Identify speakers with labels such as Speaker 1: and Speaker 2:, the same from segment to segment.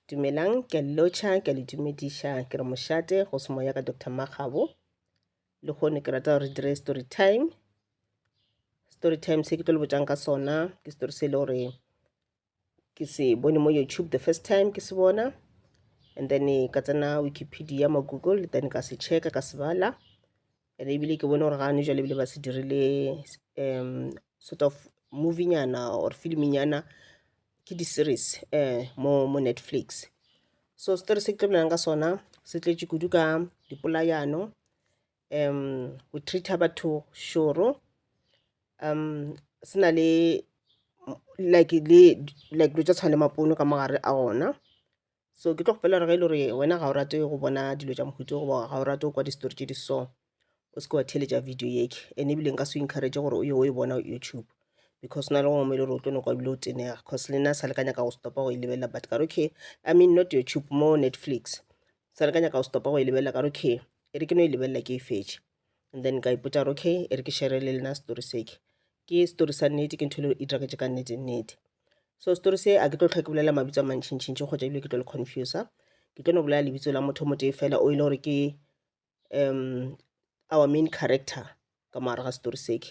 Speaker 1: dumelang ke a lelotšha ke a le dumediša ke re mošate go se moya ka dr makgabo le kgone ke rata gore dire story time story time se ke tlo le botšang ka sona ke story se e le gore ke se bone mo youtube the first time ke se bona and then ka tsena wikipedia mo google then ka se checka ka se bala And ebile ke bone gore ga ne jwale ebile ba se dirile um sort of movie nyana or film nyana ke di-series um mo mo netflix so story se ke tlebelang ka sona se tletše kudu ka dipolayano um go treata batho šoro um se na le like le like dilo tša tshwana le mapono ka mogare a gona so ke tlo kgopela gore ge e le gore wena ga o rate go bona dilo tša mohuto goba ga o rate go kwa disetori tše di so o se ke wa theletša video yeke and ebile nka se o encourage gore o ye o e bona youtube because na le go ngwe e le gore o tlo noko ebile o tenega cause le nna sa le ka nyaka go stopa go e lebelela but ka okay i mean not youtube mo netflix sa le ka nyaka go stopa go e lebelela ka okay e re ke no e lebelela ke e fetše and then ka ipotsa gore okay e re ke shere le lena story seke ke story sa nnete ke ntho e le e diragetse ka nnete nnete so story se a ke tlo tlhoke bolela mabitso a mantšhintšhintši kgotsa ebile ke tlo le confusa ke tlo no bolela lebitso la motho motee fela o e le gore ke um our main character ka moara ga story seke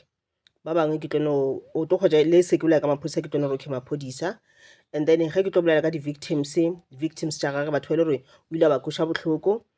Speaker 1: ba bangwe ke tlo no o tlo kgotsa le seke bolela ka maphodisa ke tlo no re ke maphodisa and then ge ke tlo bolela ka di-victims victims tša gage batho ba e le gore o ile a ba koša bohloko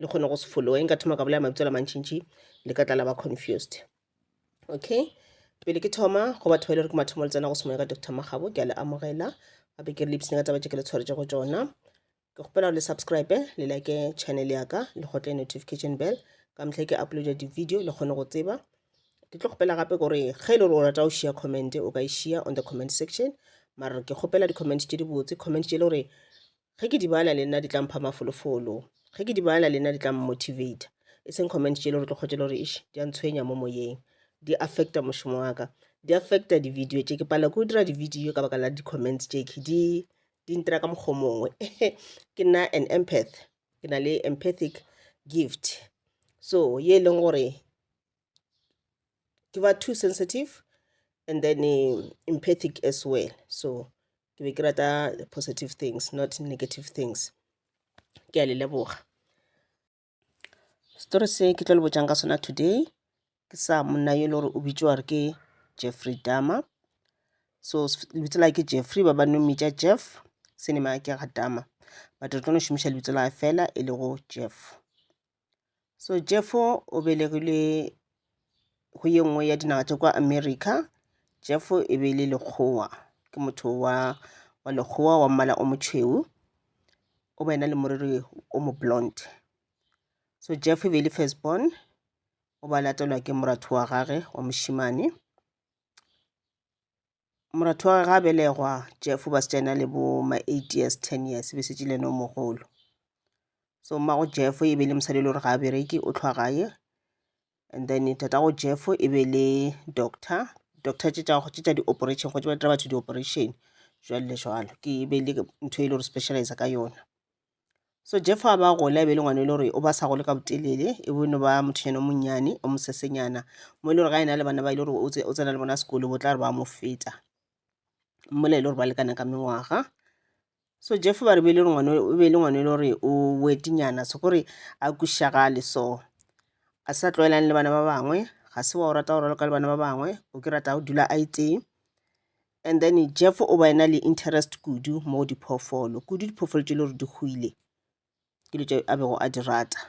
Speaker 1: le kgone go se followe nka thoma ka bolela mabitso la mantšintši le ka tla la ba confused okay pele ke thoma go batho ba ile e re ke mathomo le tsena go semoya ka dr magabo ke a le amogela gape ke re le ipsene ka taba tše ke le tshwaretse go tsona ke kgopela le subscribe le like channel ya ka le gotle notification bell ka mehla ke uploada di-video le kgone go tseba ke tlo kgopela gape gore ge e le gore o rata o share comment o ka e share on the comment section mara ke kgopela di-comment tše di botse comment tše e le gore Ge ke di bala le nna di tla mpha mafolofolo. Ge ke di bala le nna di tla mmotivator. E seng comments tšele gore tle kgotše le gore eish di a ntshwenya mo moyeng. Di affecta mošomo wa ka. Di affecta di video tše. Ke palelwa ke go dira di video ka baka la di comments tše khe di di ntira ka mokgwa o mongwe. Ke nna an empath. Ke na le empathic gift. So ye e leng gore ke ba too sensitive and then empathic as well. So ke be ke rata positive things not negative things ke a le leboga story se ke tlo le botšang ka sona today ke sa monna yo e le gore o bitšwa gore ke jeffrey dama so lebitso la ke jeffrey ba ba no mmitša jeff senema ke ga dama but re tlo no šomiša lebitso la fela e lego jeff So Jeffo o belegilwe go ye nngwe ya dinaga tša kwa America. Jeffo e be e le lekgowa, ke motho wa wa lekgowa wa mmala o motšhweu, o ba e na le moriri o mo blonde. So Jeffo e be e le first born, o ba latelwa ke moratho wa gagwe wa mošemane. moratho wa gagwe ga belegwa jeff ba se tsena le bo ma eight years ten years be setse le no mogolo so mmago jeff e be le mosadi e le gore ga a bereke o tlhwa gae and then tatago jeff e be le doctor doctor tše tša di-operation go tšebata batho di-operation jwale jwalo ke be le ntho e le gore specialize ka yona So Jeff a ba gole a be le ngwana e le gore o ba sa gole ka botelele e bone ba mothonyana o monnyane o mosesenyana mo e le gore ga ena le bana ba e le gore o tsena le bona sekolo bo tla re ba mo feta mmola e le gore ba lekana ka mengwaga so Jeff ba re be e le gore ngwana o be e le ngwana e le gore o wetinyana se gore a kušagale so a sa tlwaelane le bana ba bangwe ga se wa o rata go raloka le bana ba bangwe o ke rata go dula a itee And then Jeff o ba ena le interest kudu mo diphoofolo, kudu diphoofolo tše le gore di hwile ke dilo tše a bego a di rata.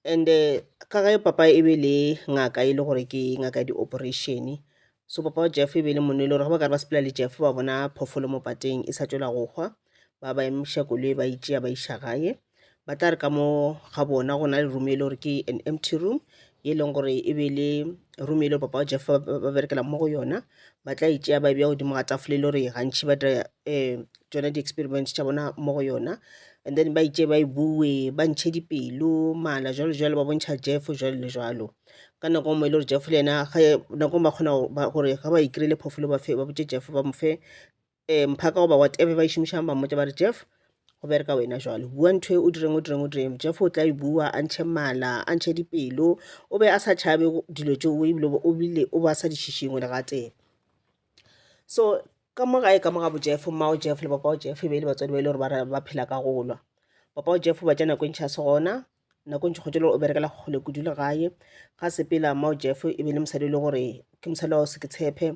Speaker 1: And eh, ka ge papa e be le ngaka e le gore ke ngaka ya di-operation, so papa wa Jeff e be le monna e le gore ge ba ka re ba sepela le Jeff ba bona phoofolo mo pateng e sa tšwela go hwa, ba ba emiša koloi ba itšea ba iša gae ba tla re ka mo ga bona go na le room e le gore ke an empty room e leng gore e be le room e le papa jeff ba berekela mo go yona ba tla itšea ba e bja godimo ga tafole e le gore gantšhi ba dira um tsone di-experiments tša bona mo go yona and then ba itše ba e bue ba ntšhe dipelo mala jalo jalo ba bontšha jeff jalo le jalo ka nako ngwe e le gore jeff le yena nako ba kgona gore ga ba ikry-ile phoofolo ba fe ba botse jeff ba mo fe um mphaka goba whatever ba e šomišang ba mmotsa ba re jeff go bereka wena jalo bua ntho e o direng o direng o direng jeff o tla e bua a ntšhe mala a ntšhe dipelo o be a sa tšhabe dilo tšeo ebile o bile o ba sa di šišingwe le gatee so ka mo gae ka mo ga bo jeff mmao jeff le papao jeff e be e le batswadi ba e le gore ba phela ka golwa papao jeff ba tša nako e ntšha se gona Nakong Tšhokgotšelo o berekela kgole kudu le gae. Ga sepela Mao Jeff e be le mosadi e le gore ke mosadi wa Seketshephe,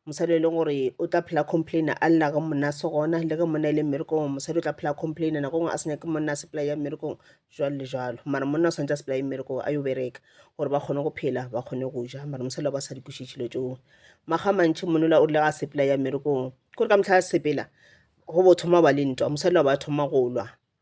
Speaker 1: mosadi e le gore o tla phela complaina a lla ge monna a se gona le ge monna e le mmerekong. Mosadi o tla phela complaina nako nngwe a se nyake monna a sepela ya mmerekong jwalo le jwalo, mara monna o santse a sepela ya mmerekong a yo bereka gore ba kgone go phela ba kgone go ja, mara mosadi wa ba sa di kwešiše tšhilo tšeo. Maga mantšhi monola o rile ga sepela ya mmerekong kore ka mehla a sepela go bo thoma ba le ntwa, mosadi wa ba thoma go lwa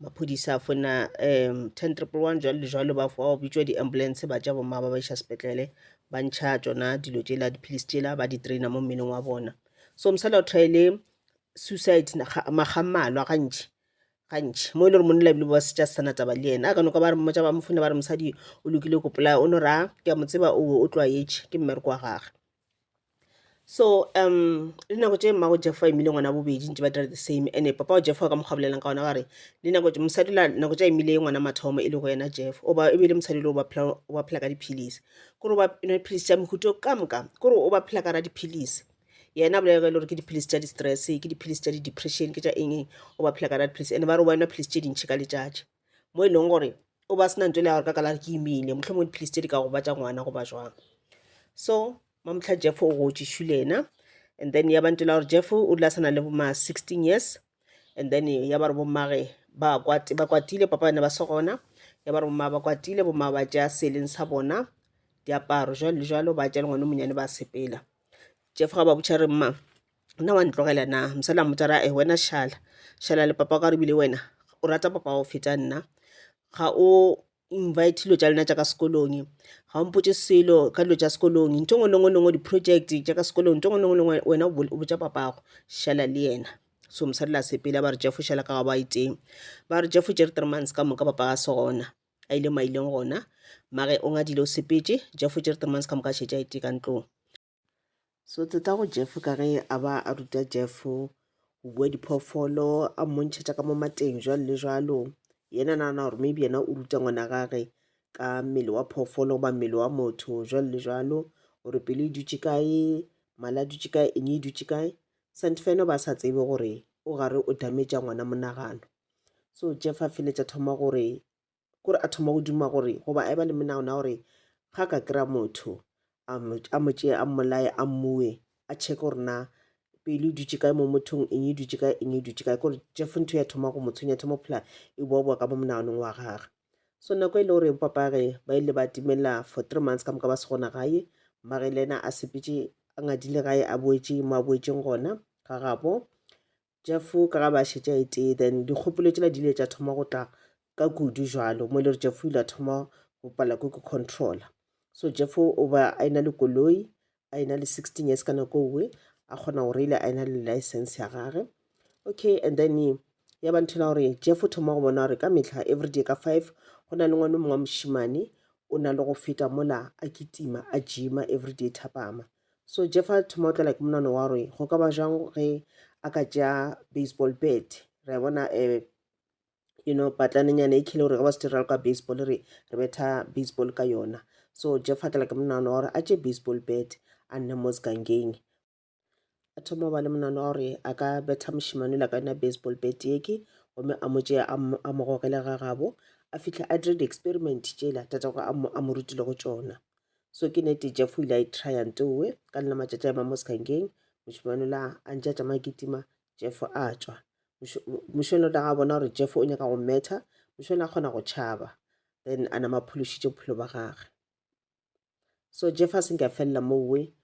Speaker 1: maphodisa a fona um ten triple one jwalo le jwalo ba fo bitšwa di-ambulance ba tša bomma ba ba iša sepetlele ba ntšha tšona dilo tšela dipilisi tšela ba di-traina mo mmeleng wa bona so mosala o thaele suicide maga mmalwa gantši gantši mo e le gore monna ebile ba setša se sana taba le yena a ka noka ba re mmotša ba mofone ba re mosadi o lokile ko polaya o no ra ke a mo tseba o o tlwaetše ke mmereko wa gage so um le nako tše mmago jeffa a imile ngwana bobedi ntse ba dira the same ande papa wa jeffa ka mokgwa bolelang ka gona gare le nako mosadi la nako tše a imile ngwana mathomo e le go yena jeff oba e be le mosadi le o ba phela ka diphilisi kore o ba nwa diphilisi tša mohuto ka moka kore o ba phela ka ra diphilisi yena a bolela e le gore ke diphilisi tša di-stress ke diphilisi tša di-depression ke tša eng eng o ba phela ka ra diphilisi ande ba re wa nwa philisi tše dintšhi ka letšatši mo e leng gore o ba sena ntho e le ya gore ka kalare ke imile mohlomongwe dipilisi tse di ka gobatša ngwana goba jwang so mamtlha jeff o gotšišu le ena and then ya bantela gore jeff o dula sana le boma 16 years and then ya ba re bommage ba kwatile papa bane ba se gona ya ba re bomma ba kwatile bomma ba tšea seleng sa bona diaparo jalo le jalo ba tšea le ngwane monyane ba sepela jeff ga ba botšha re mma nna wa ntlogela na mosadi a mmotsa ra e wena šala šala le papa ka rebile wena o rata papa go feta nna ga o invite dilo tša lena tša ka sekolong ga o mpotse selo ka dilo tša sekolong ntho ngwe lengwe lengwe di-project tša ka sekolong ntho ngwe lengwe lengwe wena o botsa papago šala le yena so mosadi la sepela ba re jefo šala ka ga ba iteng ba re jefo jere three months ka moka papa ga se gona a ile maileng gona mare o ngadile o sepetse jefo jere three months ka moka šetša ite ka ntlong So teta go Jeff ka ge a ba a ruta Jeff go bua diphoofolo a mmontšhetša ka mo mateng jwalo le jwalo yena nagana gore maybe yena o ruta ngwana gage ka mmele wa phoofolo goba mmele wa motho jwalo le jwalo gore pelo e dutše kae mala dutše kae eng e dutše kae sante feno ba sa tsebe gore o gare o dametša ngwana monagano so jeff a feletša thoma gore kore a thoma go duma gore goba a eba le menagano ya gore ga ka kry-a motho a mo tšee a mmolaye a mmue a checke gore na pele e dutše kae mo mothong eng e dutše kae eng e dutše kae kore jeff ntho ya thoma go mo tshwenya thoma phela e boaboa ka mo monaganong wa gage so nako e le gore bopapage ba ile ba timela for three months ka moka ba se gona gae mmage le ena a sepetse a ngadile gae a boetše mo a boetšeng gona ga gabo Jeff o ka ga ba šetše a itee then dikgopolo tšela di ile tša thoma go tla ka kudu jalo mo e le gore Jeff o ile a thoma go pala ko ke controller so Jeff o ba a ena le koloi a ena le 16 years ka nako owe a kgona go reila a ena le license ya gage okay and then ya ba nthela gore Jeff o thoma go bona gore ka metlha everyday ka five go na le ngwana mongwe wa mošimane o na le go feta mola a kitima a jima everyday thapama So Jefa Thomotla like monwana wa gore go ka ba jang ge a ka tšea baseball bat re a bona um you know patlanenyana e khile gore ga ba se dira le ka baseball re re betha baseball ka yona so jeff akela ke monano wa gore a tše baseball bat a nne mo segangeng a thoma ba le monano wa gore a ka betha mošimane la ka yona baseball bat eke gomme a mo tšea a mo gogele ga gabo a fitlhe a dire di-experiment tšela tatago a mo rutile go tšona so ke nete jeff o ile a e trya ntowe ka lena matšatši a ema mo sekangkeng mošemane la a ntše a tšamaya kitima jeff a tšwa mošemane o tla ga bona gore jeff o nyaka go metha mošemane a kgona go tšhaba then a nama phološitše bophelo ba gage so jeff a senke a felela mowe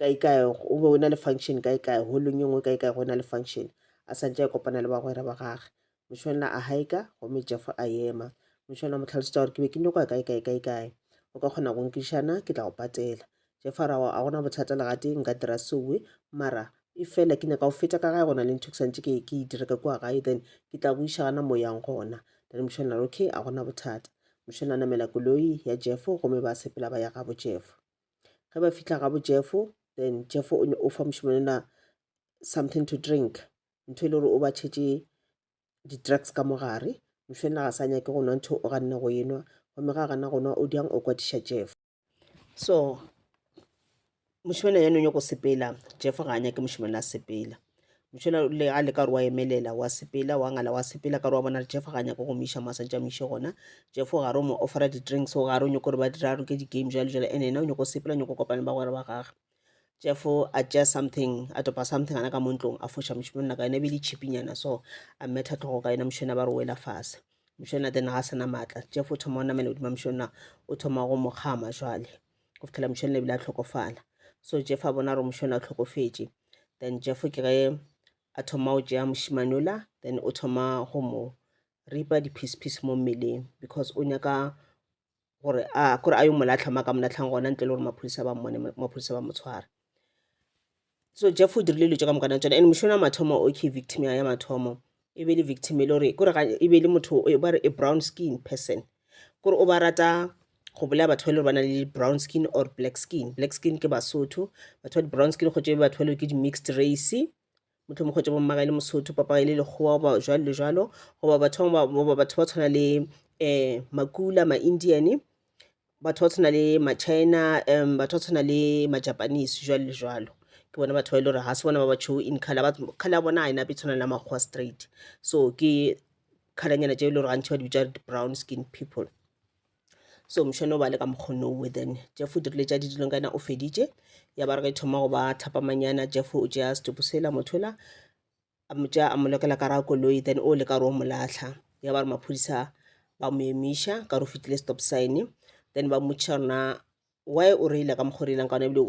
Speaker 1: kae kae o be o na le function kae kae holong e nngwe kae kae go na le function a santse a kopana le bagwera ba gage mošwana a haika gomme jeff a ema mošwana mo tlhalosetsa gore ke be ke nyoko ya kae kae kae kae o ka kgona go nkišana ke tla go patela jeff a ra a gona bothata legate nka dira sewe mara e fela ke nyaka go feta ka gae gona le ntho ke santse ke e dira ka kua gae then ke tla go iša gana moyang gona then mošwana a re okay a gona bothata mošwana a namela koloi ya jeff gomme ba sepela ba ya gabo jeff ge ba fihla gabo jeffo then jeffo o fa mošemane na something to drink ntho e le gore o ba tšhetše di-drugs ka mogare mošemane ga sa nyake go nwa ntho o ganne go enwa gomme ga gana go nwa o diang o kwatiša jeff so mošemane ya nonyoko sepela jeff ga a nyake mošemane a sepela Mošola o rile a leka gore wa emelela, wa sepela, wa ngala, wa sepela, ka gore wa bona re Jeff ga nyaka go miša mo a santse a miše gona. Jeff o gare o mo offera di-drinks, o gare o nyako gore ba dira a roke di-game jalo jalo, and ena o nyako sepela, o nyako kopana le bagwera ba gage. Jeff a tšea something, a topa something ana ka mo ntlong, a foša mošemonna ka yona, e be e le chipinyana so, a metha tlhogo ka yona, mošona ba re wela fase. Mošona then ga a sena maatla, Jeff o thoma o namela godima mošona, o thoma go mo kgama jwale. go fitlhela mošone ebile a tlhokofala so jeff a bona gore mošone a tlhokofetše then jeff ke ge a thoma go tšea mošimanola then o thoma go mo ripa di-piece piece mo mmeleng because o nyaka gore a kore a yo molatlha ma ka molatlhang gona ntle le gore maphodisa ba mmone maphodisa ba mo tshwara so jeff o dirile dilo tse ka moka na tsone and mošono wa mathomo o ke victim ya mathomo e be le victim e le gore kore e be le motho ba re a brown skin person kore o ba rata go bolaya batho ba le gore ba na le brown skin or black skin black skin ke basotho batho ba di-brown skin go tšebe batho ba le ke di-mixed race mohlomong kgotša bo mmagae le mosotho papagae le lekgowa goba jwalo le jwalo goba batho goba batho ba tshwana le um makula ma-indian batho ba tshwana le ma-china um batho ba tshwana le ma-japanese jwalo le jwalo ke bona batho ba e le gore ga se bona ba ba tšhou in color ba color ya bona ga e nape tshwana le makgowa straight so ke colornyana tše e le gore gantšhi ba di bitša brown skin people so mošono o ba le ka mokgonnowe then jeff o dirile tša didilong ka yena o feditše ya ba re ge e thoma go ba thapamanyana jeff o tšea setopo sela mothola a mo tšea a mo lokela ka ra koloi then o le ka re o mo latlha ya ba re maphodisa ba mo emiša ka re o fetile stop sign then ba mmotšiša rona why o reile ka mokgwa o reilang ka ona ebile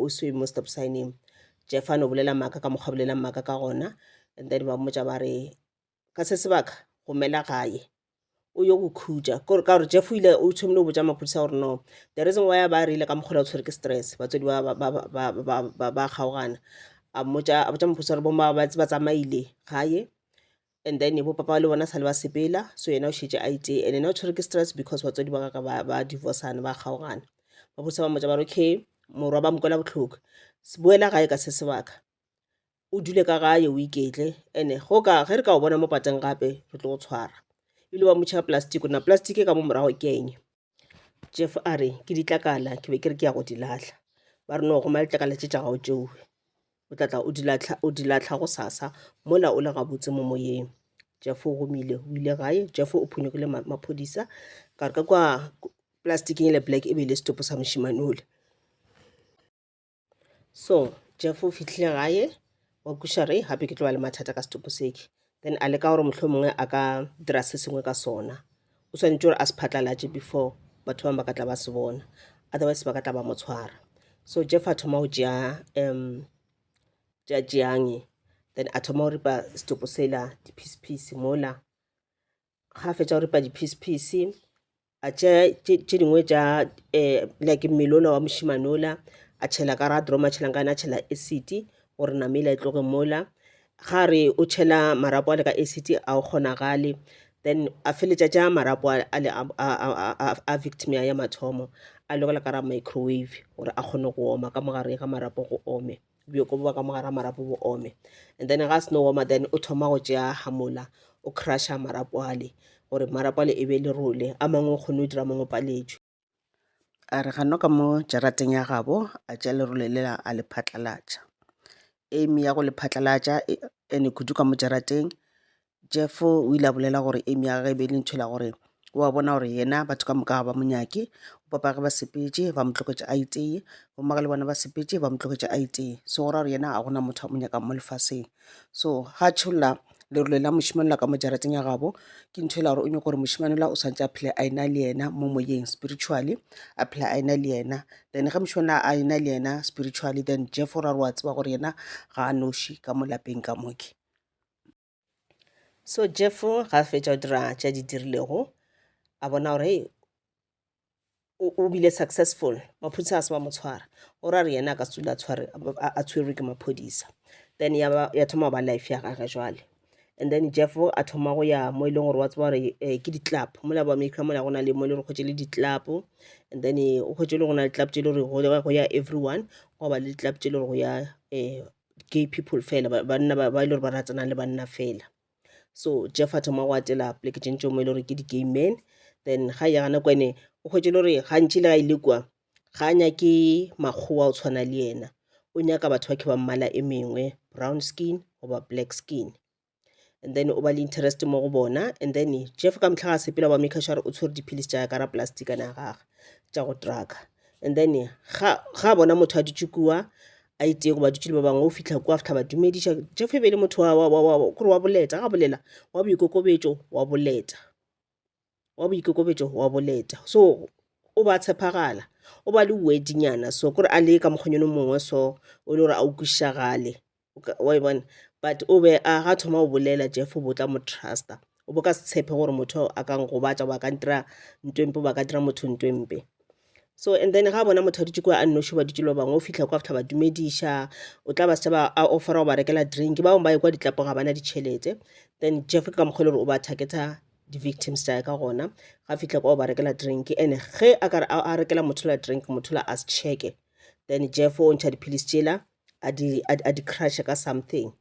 Speaker 1: o se mo stop signeng jeff a no bolela maaka ka mokgwa bolelang maaka ka gona and then ba mmotša ba re ka se sebaka gomela gae o yo go khutša kore ka gore jeff o ile o tshomile go botša maphodisa gore no the reason why ba rile ka mokgola o tshwere ke stress batswadi ba kgaogana a mmotša a botša maphodisa gore bomma ba tsamaile gae and then bo papa le bona sale ba sepela so yena o šetše a itše and ena o tshwere ke stress because batswadi ba ka ba divorcana ba kgaogana maphodisa ba mmotša ba re okay morwa ba mokwela bohloko boela gae ka se sebaka o dule ka gae o iketle ene go ka ge re ka o bona mo pateng gape re tlo go tshwara ebile wa motšha plastic na plastic e ka mo morago ke eng jeff a re ke ditlakala ke be ke re ke ya go di latlha ba re no goma letlakala tše tša gago tšeo o tlatla o di latlha go sasa mola o le gabotse mo moyeng jeff o gomile o ile gae jeff o phonyokile maphodisa ka re ka kwa plasticeng le black e be e le setopo sa mošimane ole so jeff o fihlile gae wa kuša re gape ke tlo ba le mathata ka setopo seke then a leka gore motlho mongwe a ka dira se sengwe ka sona o swanetše gore a se phatlalatše before batho bangwe ba ka tla ba se bona otherwise ba ka tla ba mo tshwara so jeff a thoma go tšea um tša tšeange then a thoma go ripa setopo sela di-piece piece mola ga a fetša go ripa diphisphisi a tšea tše dingwe tša um like melola wa mošimanola a tšhela ka ra droma a tšhelang ka yona a tšhela acid gore namela e tloge mola ga re o tšhela marapo a le ka acid a o kgonagale then a feletša tša marapo a le a victim ya mathomo a lokela ka ra microwave gore a kgone go oma ka mogare ga marapo go ome bjoko bo ba ka mogara marapo bo ome and then ga seno woma then o thoma go tšea hamola o crusha marapo ale gore marapo ale e be le role a mangwe o kgone o dira mangwe paletšwe a re gano ka mo jarateng ya gabo a tšea lerole lela a le phatlalatša aim ya go le phatlalatša e- ene kudu ka mo jarateng Jeff o ile a bolela gore Amy ya gagwe e be e le ntho e la gore wa
Speaker 2: bona gore yena batho ka moka ga ba mo nyake papa ge ba sepetše ba mo tloketše a itee bomma le bona ba sepetše ba mo tloketše a itee so go ra gore yena ga gona motho a mo nyakang mo lefaseng so ga tšholla lerole la mošemane la ka mo jarateng ya gabo ke ntho e la gore o nyako gore mošemane la o swantse a phele a ena le yena mo moyeng spiritually a phele a ena le yena then ge mošemane a ena le yena spiritually then jeff o ra gore wa tseba gore yena ga a noši ka mo lapeng ka moke so
Speaker 1: jeff ga a fetša go dira tša di dirilego a bona gore hey, o bile successful maphodisa a se ba mo tshwara o ra re yena a ka sula a tshwerwe ke maphodisa then ya thoma go ba life ya gage jwale and then jeff a thoma go ya mo e leng gore wa tseba gore eh, ke di-club mola ba america mola go na le mo e le gore kgwetse le di-club and then eh, o kgwetse le go na le club tse e le gore go ya everyone go ba le di-club tse e le gore go ya um gay people fela ba- banna ba ba e le gore ba ratsanang le banna fela so jeff a thoma go atela pleke tše ntšeo mo e le gore ke di-gay men then ga ya gana kwa ene o hwetse e le gore gantši le ga e le kwa ga a nyake makgowa o tshwana le yena o nyaka batho ba ke ba mmala e mengwe brown skin goba black skin and then o ba le interest mo go bona and then jeff ka mehla ga sepela ba make sure o tshwere dipilisi tša ka ra plasticana ya gage tša go trucka and then ga ga bona motho a dutše kua a itee goba dutše le ba bangwe o fitlha kua fitlha ba dumediša jeff e be le motho kore wa boleta ga bolela wa boikokobetšo wa boleta wa boikokobetšo wa boleta so o ba tshepagala o ba le wedinyana so kore a le ka mokgonyone mongwe so o le gore a o kwišagale wa e bona but o be a ga thoma o bolela jeff o botla mo trusta o bo ka se tshepe gore motho a ka ngobatša ba ka ntira ntwempe ba ka dira motho ntwempe so and then ga bona motho a dutse kwa a nnoši ba dutse le ba bangwe o fitlha kwa after ba dumediša o tla ba setšhaba a offera go ba rekela drink ba bangwe ba ye kwa ditlapo ga bana ditšhelete then jeff ke ka mokgwa le gore o ba targeta di-victims tsa ka gona ga fitlha kwa o ba rekela drink and ge a ka a rekela motho la drink motho la a se checke then jeff o ntšha dipilisi tšela a di, a, a di crushe ka something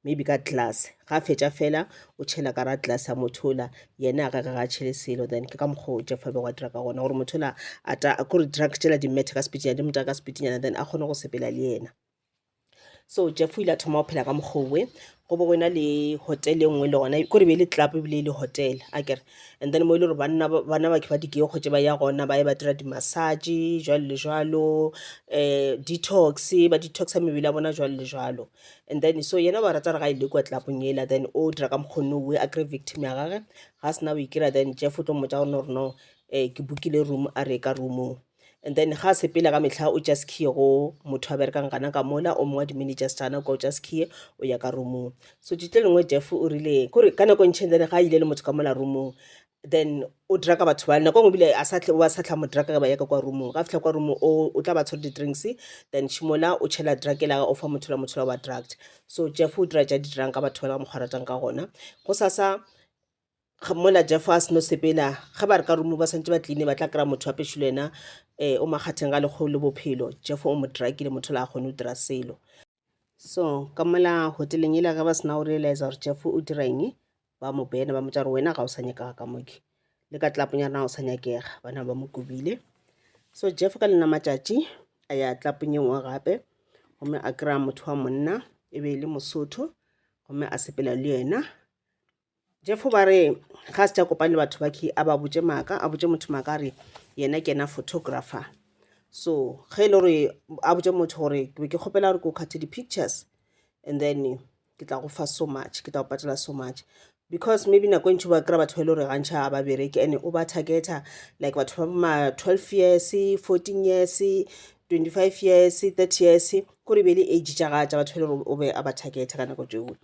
Speaker 1: maybe ka glass ga a fetša fela o tšhela ka ra glass a motho ola yena a gage ga a tšhele selo then ke ka mokgwa o jeff be wa dira ka gona gore motho ola a ta kore drug tšela di methe ka sepitinyana di motaka sepitinyana then a kgone go sepela le yena so jeff o ile a thoma go phela ka mokgowe go bo go ena le hotel e nngwe le gona kore be e le club ebile e le hotel a kere and then mo e le gore banna bana ba ke ba dikee kgotse ba ya gona ba ye ba dira di-massage jwalo le jwalo um detox ba detoxa mebele ya bona jwalo le jwalo and then so yena ba rata re ga e le kwa tlapong ela then o dira ka mokgonne oe a kry victim ya gage ga sena o ikira then jeff o tlo mmotsa gore no gore no um ke bookile room a re ka roomong And then ga sepela ka mehla o just key go motho a berekang gana ka mola o mongwe dimini just ana kwa o just key o ya ka roomong so tšitlo lengwe jeff o rile kore ka nako e ntšheng then ga a ile le motho ka mola roomong then o draka batho ba nako e ngwe bile a sa tle- wa sa tla mo draka ka ba ya ka kwa roomong ga fihla kwa roomong o o tla ba tshwere di-drinks then šimola o tšhela drakela o fa motho la motho la wa drugged so jeff o dira tša di dirang ka batho ba le ka mokgwa a ratang ka gona go sasa mola jeff a seno sepela ge ba re ka rumo ba swantse ba tline ba tla kry-a motho wa pešilo yena um o makgatheng ga lekgolo le bophelo jeff o mo drakile motho la a kgone o dira selo so ka mola hoteleng ela ge ba sena o realize gore jeff o dira eng ba mo bena ba motsa gore wena ga o sa nyakega ka moke le ka tlaponyana ga o sa nyakega bana ba mo kobile so jeff ka lena matšatši a ya tlapong e nngwe gape gomme a kry-a motho wa monna e be e le mosotho gomme a sepela le yena Jefo ba re ga a se tša kopane le batho ba khe a ba botše maaka a botše motho maaka a re yena ke yena photographer so ge e le gore a botše motho gore ke be ke kgopela gore ke o kgathe di-pictures and then ke tla go fa so much ke tla go patela so much because maybe nako e ntšhi ba kry-a batho ba e le gore gantšha ga ba bereke and o ba targeta like batho ba ma twelve years fourteen years twenty five years thirty years kore e be e le age tša ga tša batho ba e le gore o be a ba targeta ka nako tšeo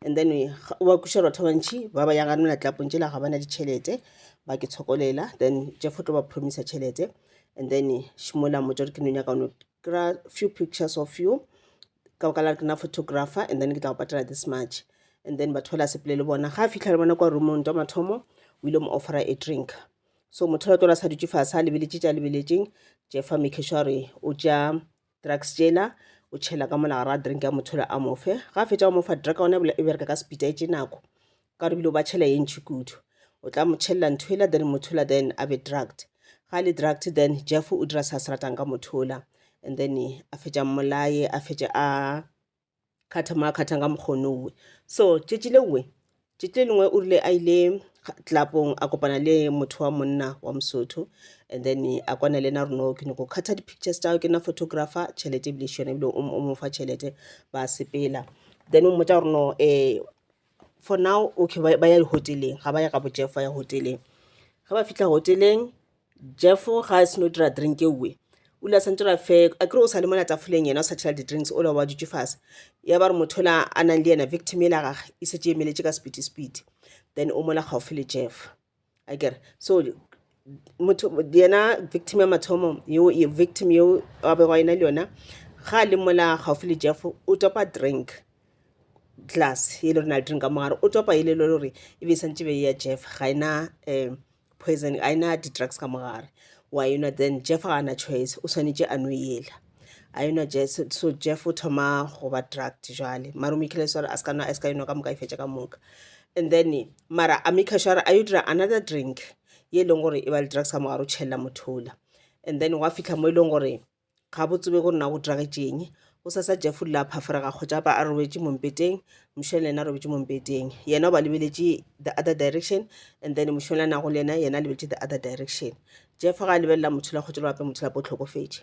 Speaker 1: and then we- ga- wa kweša batho ba bantšhi ba ba yago nona tlapong tšela ga bana ditšhelete ba ke tshokolela then jeff o tlo ba promisa tšhelete and then šimola mmotsa gore ke nonyaka ono kry-a few pictures of you ka baka la ke na photographer and then ke tla go patela this much and then batho ba la sepele le bona ga a fitlha le bona kwa roomong twa mathomo o ile mo offera a drink so motho la tlola sa dutse fase a lebeletse tša lebeletseng jeff a make sure gore o tša drugs tšela o tšhela ka mola gara drink ya mothole a mofe ga a fetša o mofa drug one e bereka ka sepita e tše nako ka re bile o ba tšhela ye ntšhi kudu o tla mo tšhelela ntho ela then mothola then a be drugged ga le drugged then jeff o dira sa se ratang ka mothola and then a fetša mmolaye a fetše a kgatha mo a kgathang ka mokgonowe so tšetši le nngwe tšetši le lengwe o rile a ile tlapong a kopana le motho wa monna wa mosotho and then a kwana le ena reno ke nyako kgatha di-pictures tao ke nna photographer tšhelete ebile šone ebile o mo fa tšhelete ba sepela then o mmotsa goreno um eh, for now okay ba ya di-hotel-eng ga ba ye gabo Jeff ba ya hotel-eng ge ba fitlha hotel-eng Jeff ga a seno dira drink e nngwe o ile a santse a fe a kere o sa le mona tafoleng yena o sa tšhela di-drinks o la wa dutše fase ya ba re motho o la a nang le yena victim e la gage e setse emeletše ka sepiti sepiti then o mola gaufi le Jeff. a kere so motho yena victim ya mathomo yo ye victim yo a bego a ena le yona ga a le mola gaufi le jeff o topa drink glass e le rena le drink ka mogare o topa e le le gore e be e santse be ya jeff ga ena um poison ga ena di-drugs ka mogare wa enwa then jeff ga ana choice o swanetše a no ela a enwa jesu so jeff o thoma go ba drugged jale mara o mekile sore a seka nwa a seka enwa ka moka e fetša ka moka and then mara a meka sure a yo dira another drink ye e leng gore e ba le drugs ka mogare o tšhelela mothola and then wa fitlha mo e leng gore ga bo tsebe gore na go dragetšeng o sa sa jeff o rile a phaforega kgotsa ba a robetše mompeteng mošweng le yena a robetše mompeteng yena o ba lebeletše the other direction and then mošweng le nago le yena yena a lebeletše the other direction jeff ga a lebelela motho la kgotsa le bape motho lape o tlhokofetše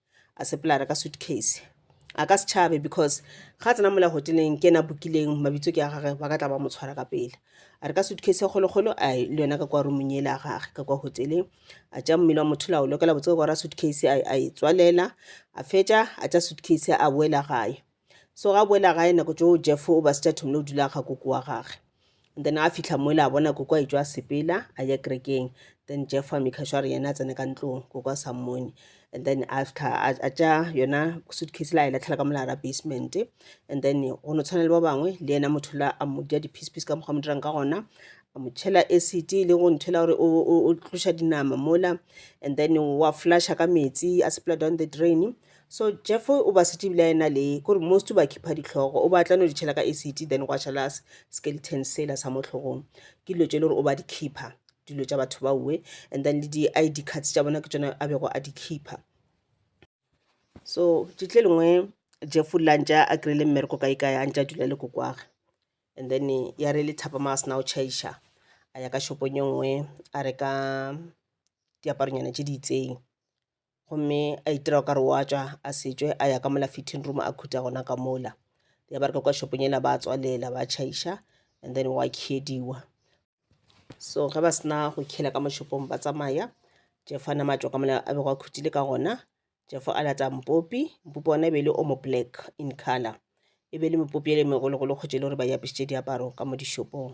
Speaker 1: a seplara ka suitcase a ka setšhabe because ga tsena mola hoteleng ke ena bokileng mabitso ke a gage ba ka tla ba mo tshwara ka pele a re ka suitcase ya kgolokgolo a le yona ka kwa rumong ele a gage ka kwa hoteleng a tša mmele wa motho la o lokela botse gore a suitcase a e tswalela a fetša a tša suitcase a boela gae So ga boela gae nako tšo Jeff o ba sitša thomile o dula ga koko wa gage. And then a fihla moela a bona koko a itšwa a sepela a ya kerekeng. Then Jeff a maker sure yena a tsene ka ntlong koko a sa mmone. And then a fihla a tša yona suitcase la e latlhela ka molara basement. And then go no tshwana le ba bangwe le yena motho la a mo dia di-piece piece ka mokgwa mo dirang ka gona a mo tšhela acid le go nthela gore o tloša dinama mola and then wa flasha ka metsi a sepela down the drain So Jeff o ba setse ebile a ena le kore most ba khipha ditlhogo o batla no di tšhela ka acid then gwa šala skeleton sela sa mo tlhogong ke dilo tše le gore o ba di khipha dilo tša batho ba uwe and then le di-id cards tša bona ke tsone a bego a di khipha so tšetle lengwe jeff o lantša a kry-ile mmereko kae kae a ntša a dula le kokwage and then ya re le thapama a sena o chaiša a ya ka shopong e nngwe a reka diaparonyana tše di itseng gomme a itira ka re wa tswa a setswe a ya ka mola fitting room a khutha gona ka mola ya ba re ka kwa shopong ela ba tswalela ba chaiša and then wa khediwa so ge ba sena go khela ka moshopong ba tsamaya jefo a nama tswa ka mola a bego a khuthile ka gona jefo a lata mpopi mpopi ona e be e le omo black in color e be e le mepopi ele megologolo kgotsa e le gore ba e apešitše diaparo ka mo dishopong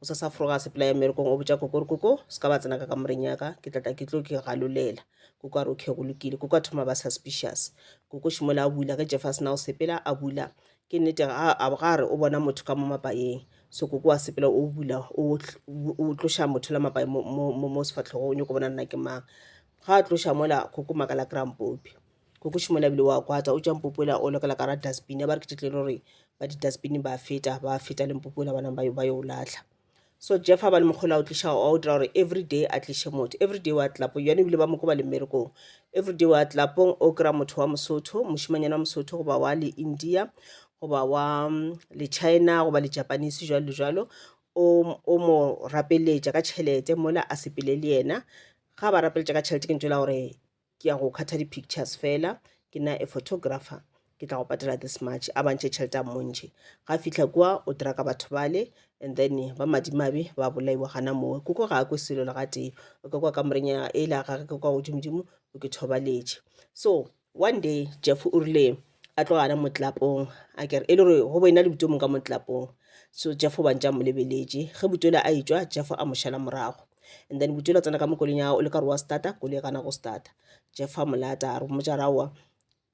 Speaker 1: O sa sa froga sepela ya merekong o botša koko gore koko se ka ba tsena ka kamoreng yaka ke tlatla ke tlo ke galolela koko a re okay go lokile koko a thoma ba suspicious koko šimola a bula ge jeff a sena go sepela a bula ke nnete ga a re o bona motho ka mo mapayeng so koko wa sepela o bula o tloša motho la mapaye mo sefatlhogo o nyoko bona nna ke mang ga a tloša mola koko makala krampopi Kokoši mola bile wa kwata o tša mpopoela o lokela ka ra dustbin ya ba re ke tletlele gore ba di-dustbin ba feta ba feta le mpopoela ba nang ba yo o latlha so jeff a ba le mokgolo a o tliša wa o dira gore every day a tliše motho every day wa tlapong yone ebile ba moko ba le mmerekong every day wa tlapong o kry-a motho wa mosotho mošimanyana wa mosotho goba wa le india goba wa mm, le china goba le japanese jalo le jalo o mo rapeletša ka tšhelete mola a sepele le yena ga ba rapeletša ka tšhelete ke ntšwela gore ke ya go khatha di-pictures fela ke na a photographer ke tla go patela this much a bantšhe tšhelete a mmontšhe ga fitlha kua o dira ka batho bale and then ba madimabe ba bolaiwa gana mowe koko ga a kwe selo le gatee o ka kwa kamoreng ya e la gage ke kwa godimodimo o ke thobaletše so one day jeff o rile a tlo gana motlapong a kere e le gore go boena le buto mong ka motlapong so jeff o bantša mo lebeletše ge buto le a etswa jeff a mo šala morago and then buto la tsena ka mo koleng ya o le ka re wa starta koloi gana go starta jeff a mo lata a re mmotsa raowa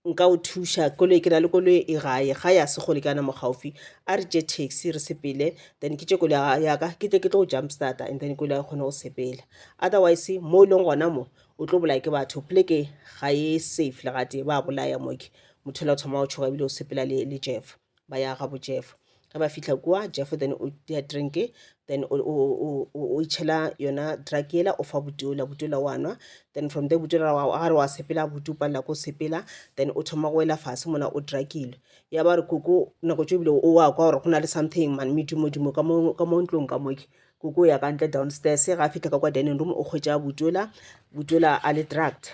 Speaker 1: nka o thuša koloi ke na le koloi e gae ga ya se gole ke ana mo gaufi a re tše taxi re sepele then ke tše koloi yaka ke tle ke tlo go jump starta and then koloi ya kgone go sepela otherwise mo e leng gona mo o tlo bolaya ke batho pleke ga e safe le gatee ba bolaya moke motho la thoma o tshoga ebile o sepela le, le jeff ba ya ga bojeff ge ba fitlha kua jeff then o tea drinke then o, o, o, o, o itšhela yona drug yela o fa butola butola wa nwa then from there butola wa gare wa sepela butu palela ko sepela then o thoma go wela fase mona o drugilwe ya ba re koko nako tso ebile o wa kwa gore go na le something man medumodimo ka mo ka mo ntlong ka moke Koko o ya ka ntle downstairs. Ga a fitlha ka kwa dining room o kgwetša Butola. Butola a le drugged.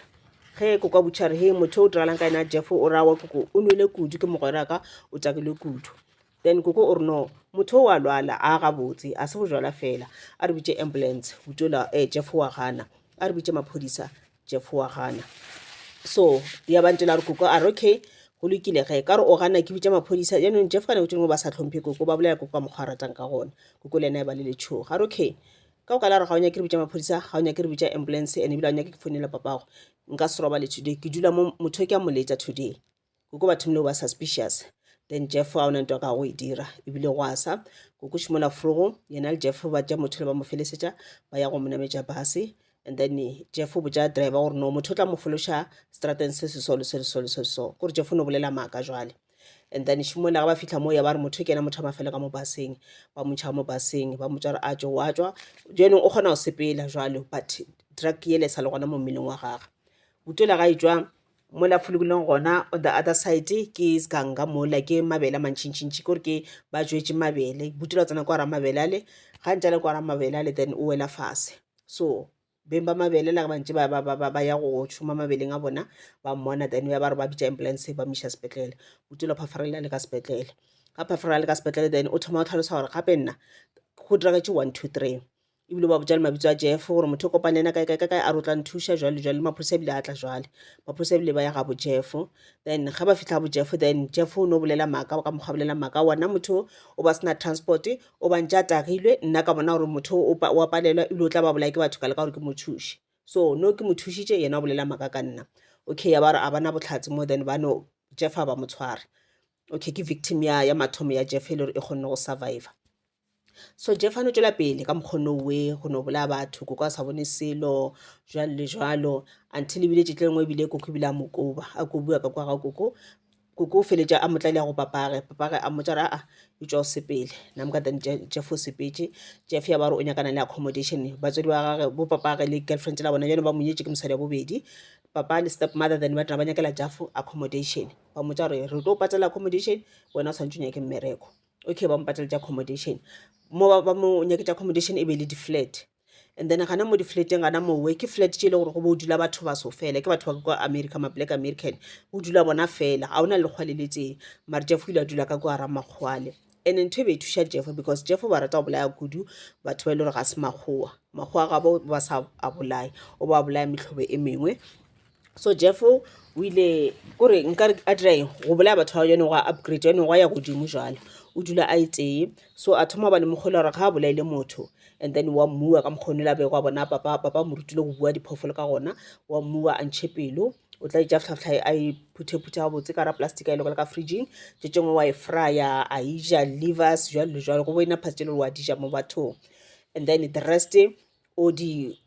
Speaker 1: Ge koko a butšha re he motho o diragalang ka yena Jeff o ra wa koko o nwele kudu ke mogweraka o takilwe kudu. Then koko o re no motho o a lwala a gabotse a se bojwala fela a re bitše ambulance Butola eh Jeff wa gana a re bitše maphodisa Jeff wa gana. So ya ba ntse la re koko a re okay go lokile ge ka re o gana ke bitša maphodisa jaanong Jeff kana kotšeng mo ba sa tlhomphe koko ba bolela koko ka mokgwa a ratang ka gona koko le ena e ba le letshogo ga re okay ka o ka la re ga o nyake re bitša maphodisa ga o nyake re bitša ambulance and ebile ga o nyake ke founela papago nka se robale today ke dula mo motho ke a moletša today koko batho mle ba suspicious then jeff ga ona nto ka go e dira ebile go asa koko šimola frogo yena le jeff ba tša motho le ba mo felesetša ba ya go mo nametša base and then jeff o botša driver gore no motho o tla mo fološa strateng se se so le se le so le se so gore jeff o no bolela maaka jwale and then šimola ga ba fitlha moo ya ba re motho ke ena motho a mafele ka mo baseng ba motšha mo baseng ba motša gore a tšo wa tswa jenong o kgona go sepela jwalo but drug yele sa le gona mo mmeleng wa gagwe utola ga e tswa Mola folokileng gona on the other side ke sganga mola ke mabele a mantšhintšhintšhi kore ke ba jwetse mabele butela tsena kwa ra mabele ale ga ntse le kwa ra mabele ale then o wela fase so beng ba mabele la ba ntse ba ba ba ba ya go šoma mabeleng a bona ba mmona then ya ba re ba bitša ambulance ba miša sepetlele o tilo phafarelela le ka sepetlele ga phafarelela le ka sepetlele then o thoma o tlhalosa gore gape nna go diragetse one two three E bile o ba botša le mabitso a Jeff, gore motho o kopane le yena kae kae ka kae, a re o tla nthuša, jwale jwale. Le maphodisa a bile a tla jwale. Maphodisa a bile ba ya ga bo Jeff. Then ge ba fihla bo Jeff, then Jeff o no bolela maaka, ka mokgwa a bolela maaka wona, motho o ba sena transport, o ba ntše a tagilwe. Nna ka bona gore motho o o a palelwa, e bile o tla ba bolaya ke batho ka leka gore ke mo thuše. So no ke mo thušitše, yena o bolela maaka ka nna. Okay, ya ba re a ba na bohlatse mo, then ba no, Jeff a ba mo tshwara. Okay, ke victim ya ya mathomo ya Jeff e le gore e kgonne go surviva. So Jeff a no tšwela pele ka mokgwa no we go no bolaya batho koko a sa bone selo jwalo le jwalo until ebile tšetla e nngwe ebile koko ebile a mo koba a kobiwa ka kwa ga koko koko o feletša a mo tlaile ya go papage papage a mmotša gore aa etšwa o sepele nam ka then Jeff o sepetše Jeff ya ba gore o nyakana le accommodation batswadi ba gagwe bo papage le girlfriend la bona bjale ba mo nyetše ke mosadi wa bobedi papa le step mother then ba tla ba nyakela Jeff accommodation ba mmotša gore re tlo patela accommodation wena o swanetše o nyake mmereko. okay ba mo pateletša accommodation mo ba mo nyaketša accommodation e be e le di-flat and then gana mo di-flateng gana mowe ke flat tše e le gore go bo o dula batho baso fela ke batho ba kwa america ma black american o dula bona fela ga o na le lekgwa le letseng mare jeffo ile a dula ka kwa ramakgwale and ntho e be e thuša jeffo because jeffo ba rata go bolaya kudu batho ba e le gore ga se makgowa makgowa ga ba sa a bolaya o ba bolaya metlhobo e mengwe so jeff o ile kore nka a dira eng go bolaya batho ba yone go a upgrade yone go ya godimo jalo o dula a e tee so a thoma ba le mokgolo gore ga a bolaile motho and then wa mmua ka mokgone la bego a bona papa papa mo rutile go bua diphoofolo ka gona wa mmua a ntšhe pelo o tla itša tlhatlha a e phuthephuthe ga botse ka ra plastic a e lokela ka fridging tše tšengwe wa e frya a e ja livers jalo le jalo go bo ena phasitše le wa dija mo bathong and then the rest o di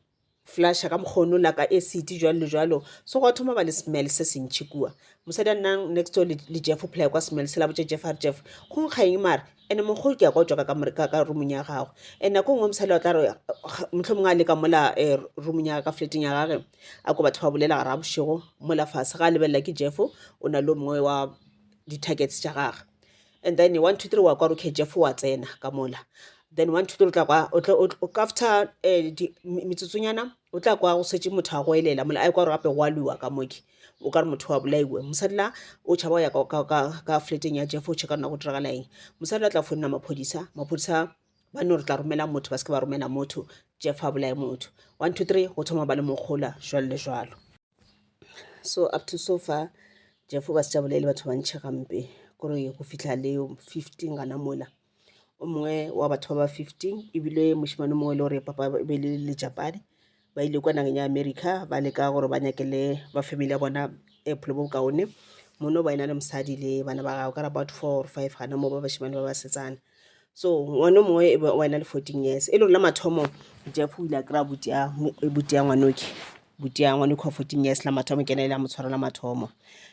Speaker 1: flasha ka mokgwa ono laka acid jwalo le jwalo so gwa thoma ba le smell se sentšhi kua mosadi a nnang next door le jeff o phelaya kwa smell se la botša jeff a re jeff go nkga eng mare ande mokgolo ke ya kwa tswaka ka roomong ya gagwe and nako e nngwe mosadi wa tla re motlho mongwe a leka mola eh, roomong ya ka fleteng ya gage a ko batho ba bolela gara bošego mola fase ga a lebelela ke jeff o na le o mongwe wa di-targets tša gagwe And then one two three wa kwa rokhetše fo wa tsena ka mola then one two three o tla kwa o tla- o tla- o- after eh, di- mi- metsotsonyana o tla kwa go setse motho a go elela mola a kwa gore gape go a lwiwa ka moke o ka re motho wa bolaiwe mosadi la o tšhaba go ya ka- ka- ka- ka fleteng ya jeff o checka rona go diragala eng mosadi la tla founela maphodisa maphodisa ba no re tla romela motho ba se ke ba romela motho jeff a bolae motho one two three go thoma ba le mokgola jalo le jalo so up to so far jefo ba se tša bolele batho ba ntšhe gampe kore go fitlha le fifteen gana mola o mongwe wa batho ba ba fifteen ebile mošemane mongwe e le gore papa be le lejapane ba ile kwa nageng ya america ba leka gore ba nyakele ba family ya bona e bophelo bo bokaone mono ba e na le mosadi le bana ba gagwe ka re about four or five gana moo ba bašemane ba basetsana so ngwane mongwe e be wena le fourteen years e le rona mathomo jeff o ile a kry-a butia butia ngwanoke butia ngwanoke wa fourteen years la mathomo ke ena ile a mo tshwara la mathomo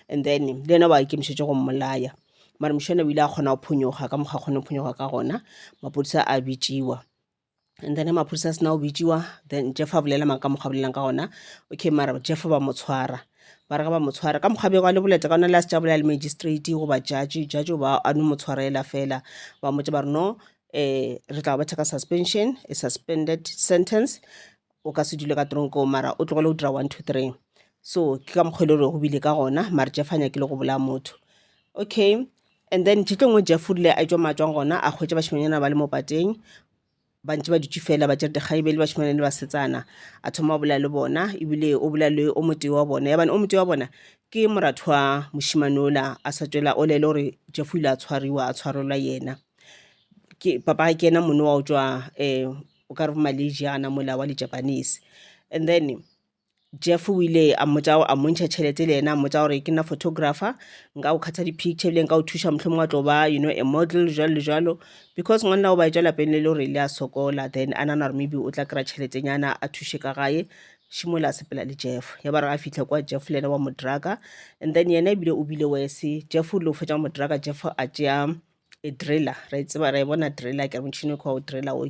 Speaker 1: and then le ena ba ikemišetse go mmolaya mare mošana o ile a kgona go phonyoga ka mokgwa a kgone go phonyoga ka gona maphodisa a bitsiwa and then maphodisa a sena go bitsiwa then jeff a bolela mang ka mokgwa bolelang ka gona okay mara jeff ba mo tshwara ba re ga ba mo tshwara ka mokgwa bego a le boleta ka ona le a se tša bolela le magistrate goba judge judge o ba a no mo tshwarela fela ba motse ba re no um re tla go betha ka suspension a suspended sentence o ka se dule ka tronko mara o tlogele go dira one two three so ke ka mokgwele gore go bile ka gona mare jeff a nyakile go bolaya motho okay and then tšitlo ngwe jeff o rile a etswa matswang gona a kgwetsa bašimanyana ba le mo pateng ba ntse ba dutse fela ba tsere dikgang ebele bašimanyana le basetsana a thoma o bolaya le bona ebile o bolaya le o motee wa bona yabane o motee wa bona ke moratho wa mošimane ola a sa tswela o lele gore jeff o ile a tshwariwa a tshwarelwa yena ke papa ke ena mone wa o tswa um eh, o ka re bo Malaysiana mola wa di-Japanese and then Jeff o ile a mmotsa a mmontšha tšhelete le yena a mmotsa gore ke nna photographer nka o kgatha di-picture ebile nka o thuša mohlomong wa tlo ba you know a model jalo le jalo because ngwanela o ba etša lapeng le le gore le a sokola then a nana gore maybe o tla kry-a tšheletenyana a thuše ka gae šimola a sepela le jeff ya ba re a fitlha kwa jeff le yena wa mo druga and then yena ebile o bile wese jeff o ile o fetša mo druga jeff a tšea e driller ra e tseba ra e bona driller ke motšhini kgwa o driller o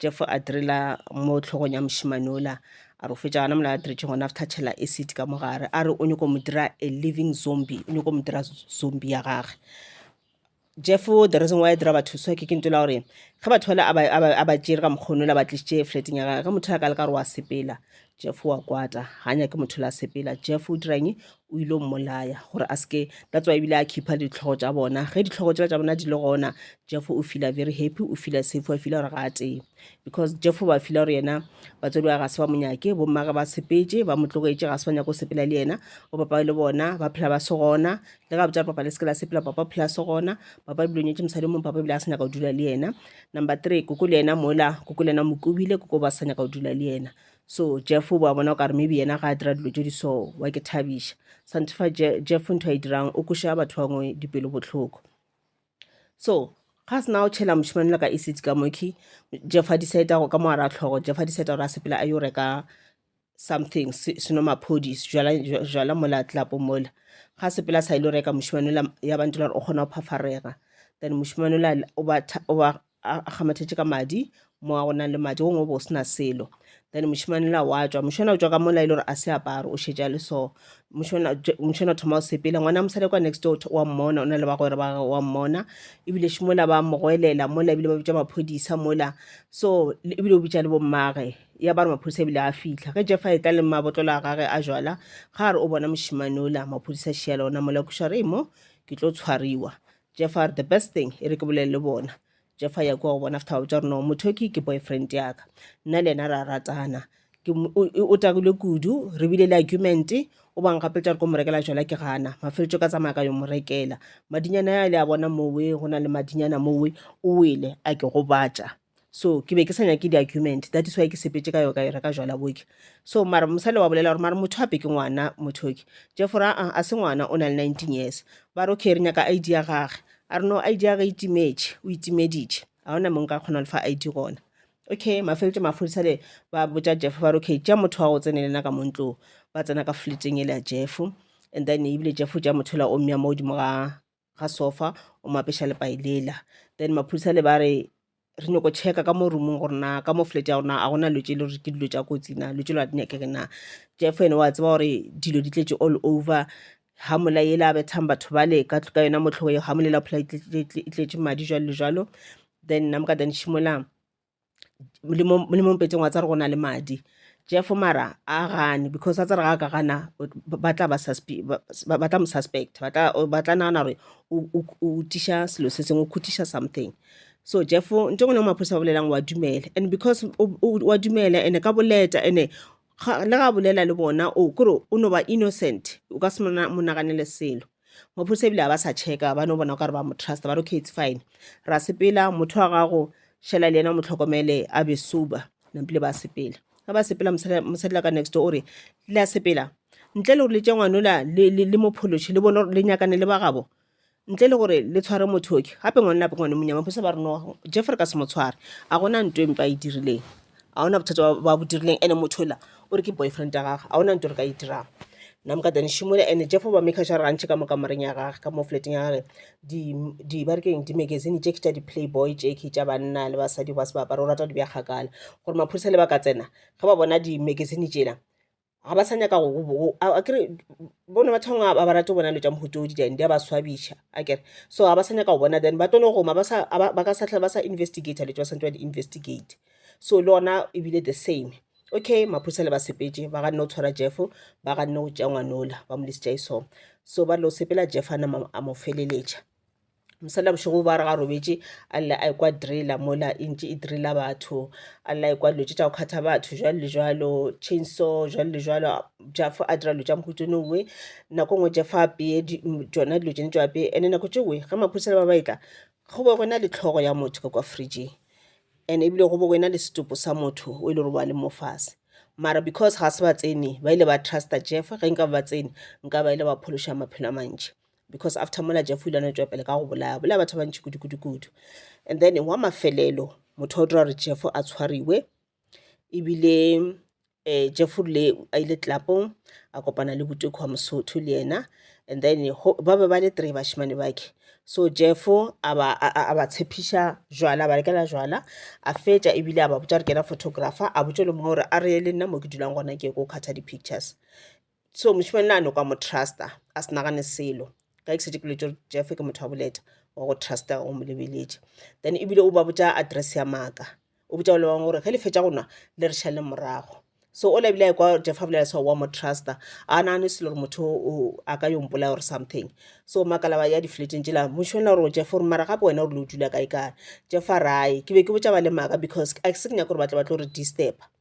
Speaker 1: jeff a driller mo tlhogong ya mošimane ola a re fetša gona mola a diretšhe gona after tšhela acid ka mo gare a re o nyako mo dira a living zombie o nyako mo dira zombie ya gage jeff the reason why a dira batho so ke ke ntola gore ge batho bale a ba tšere ka mokgono la ba tlisitše flateng ya gage ge motho a ka le ka gore wa sepela jeff wa kwata ga nyake motho la sepela jeff o dirang o ile o mmolaya gore a seke that's why ebile a khipha ditlhogo tša bona ge ditlhogo tšela tša bona di le gona jeff o fila very happy o fila safe wa fila gore ga a tee because jeff ba fila gore yena batswadi wa ga se ba monyake bommage ba sepetse ba mo tlogetše ga se ba nyaka go sepela le yena o papa le bona ba phela ba se gona le ga botša papa le seke la sepela papa phela se gona papa ebile o nyetse mosadi mong papa ebile a se nyaka go dula le yena number three koko le yena mola koko le yena mokobile koko ba sa nyaka go dula le yena So Jeff o ba bona o ka re maybe yena ga a dira dilo tše di so wa ke thabiša sante fa Je- Jeff ntho a e dirang o koša batho ba bangwe dipelo bohloko so ga a sena o tšhela mošemane le ka acid ka moki Jeff a decide go ka mo a ra tlhogo Jeff a decide gore a sepela a yo reka something se- seno maphodi jala jwa- jwala mola tlapo mola ga a sepela sa ile go reka mošemane ola ya bantela gore o kgona go phafarega then mošemane ola o ba tha- o ba a kgamathetše ka madi mo a go nang le madi gongwe o bo o se na selo then mošemane la wa tswa mošemane o tswa ka mola e le gore a se aparo o šetša le so mošemane o thoma o sepela ngwana mosadi kwa next door wa mmona o na le bagwera ba gagwe wa mmona ebile še mola ba mogwelela mola ebile ba bitša maphodisa mola so ebile o bitša le bommage ya ba re maphodisa ebile a fitlha ge jefa e tla le mabotlolo a gage a jala ga re o bona mošemane ola maphodisa šea le ona mola kuša re mo ke tlo tshwariwa Jeff a re, The best thing, e re ke bolele le bona. Jeff a ya kua go bona after wa botša gore, No, motho yo ke ke boyfriend ya ka. Nna le yena ra ratana. Ke mo, o, o, o takilwe kudu, re bile le argument, o ba nkgapeletša gore ko mo rekela jwala ke gana. Mafeletšo ka tsamaya ka yo mo rekela. Madinyana a le a bona mowe, go na le madinyana mowe, o wele, a ke gobatša. so ke be ke sa nyake di-argument that is why ke sepetse ka yo ka yona ka jwala boke so mara mosale wa bolela gore mara motho ape ke ngwana mothoki jeffo ra a se ngwana o na le nineteen years ba re okay re nyaka id ya gage a re no id ya gage e timetše o itimeditše ga ona mong ka kgona lefa id gona okay mafeletse maphodisa le ba botša jeffo ba re okay tša motho wa go tsene le nna ka montlo ba tsena ka fleteng e le ya jeffo and then ebile jeffo tša motho la ommya mo godimo ga ga sofa o mo apeša lepai lela then maphodisa le ba re re nyoko checka ka mo roomong gore na ka mo flat ya gona a gona dilo tse le gore ke dilo tsa kotsi na dilo tse le a di nyakege na jeff ene wa tseba gore dilo di tletše all over ga mola yela a bethang batho bale ka ka yona motlhogo eo ga molela phola e tletše madi jalo le jalo then nna moka then šimolang le mo le mo mpetseng wa tsare go na le madi jeff mara a gane because a tsare ga ka gana ba tla ba suspe- ba- ba ba tla mo suspect ba tla ba tla nagana gore o o- o tiša selo se sengwe o khutiša something so jeff nto ngwe le ngwe maphodisa ba bolelang wa dumela and because o- o- wa dumela and ka boleta and ga le ga bolela le bona o kore o no ba innocent o ka se mo naganele selo maphodisa ebile ga ba sa checka ba no bona o kare ba mo trust ba re okay it's fine ra sepela motho wa gago šala le yena mo tlhokomele a be sober nampile ba sepela ga ba sepela mosadila ka next o re la sepela ntle le gore le tše ngwanola le mo phološe le bone gore le nyakane le ba gabo ntle le gore le tshware mothoki gape ngwane lape ngwane monyama phose ba reno jeff re ka se mo tshware a gona nto e mpe a e dirileng a ona bothata ba bo dirileng ande mothola o re ke boyfriend ya gage a ona nto re ka e dirang nna moka tane shimola ande jeff ba make sure gantšhe ka mo kamareng ya gage ka mo flateng ya gage di ba re keng di-magazine tše ke tša di-playboy tše ke tša banna le basadi ba se ba apara o rata di bja kgakala gore maphodisa le ba ka tsena ge ba bona di-magazine tšela ga ba sa nyaka akere bona batho bangwe ba ba rate bona dilo tša mohutodi then di a ba swabiša akere so ga ba sa nyaka go bona then ba tlo no goma ba ka sa tlhole ba sa investigata dilo tse ba santse ba di investigate so le ona ebile the same okay maphodisa le ba sepetše ba ganne go tshwara jeff ba ganne go tšea ngwanola ba mo lesitša e song so ba lo sepela jeff a nama a mo feleletša mosela bošego ba re ga robetše a lle a ekwa drela mola e ntše e drela batho a lla ekwa dilo tše tša go kgatha batho jwalo le jwalo chainsaw jwalo le jwalo jafo a dira dilo tša mohutsone uwe nako nngwe jafo a peye tšona dilo tšene tšo apeye ande nako tše uwe ge maphodisa le ba ba etla go be gona le tlhogo ya motho ka kwa fridgeng and ebile go be go ena le setopo sa motho o e le gore ba le mo fase mara because ga se ba tsene ba ile ba trusta jeff ge nka ba tsene nka ba ile ba phološa maphelo a mantši because after mola jeff o ile a no tšwapele ka go bolaya bolaya batho ba bantši kudu-kudu-kudu and then wa mafelelo motho wa dira gore jeff a tshwariwe ebile um jeff rile a ile tlelapong a kopana le botoko wa mosotho le yena and then ba be ba le three bashimane bakhe so jeff a ba tshepiša jwala ba rekela jwala a fetša ebile a ba botša re kena photographer a botše le mongwe gore a reye le nna mo ke dulang gona ke ko kgatha di-pictures so mošemane na no ka mo trusta a se nagane selo ka ke setse ke letse gore jeff ke motho wa boleta wa go trusta o mo lebeletše then ebile o ba botša address ya maaka o botša le bangwe gore ge le fetša go nwa le re šale morago so o lebile kwa jeff a bolela sa wa mo trusta a nagane selo gore motho o a ka yo mpolaya or something so makalaba ya di-flateng tsela mošemane gore jeff gore mara gape wena o rile o dula kae kae jeff a rae ke be ke botša ba le maaka because a ke se ke nyaka gore ba tle ba tlo re disturba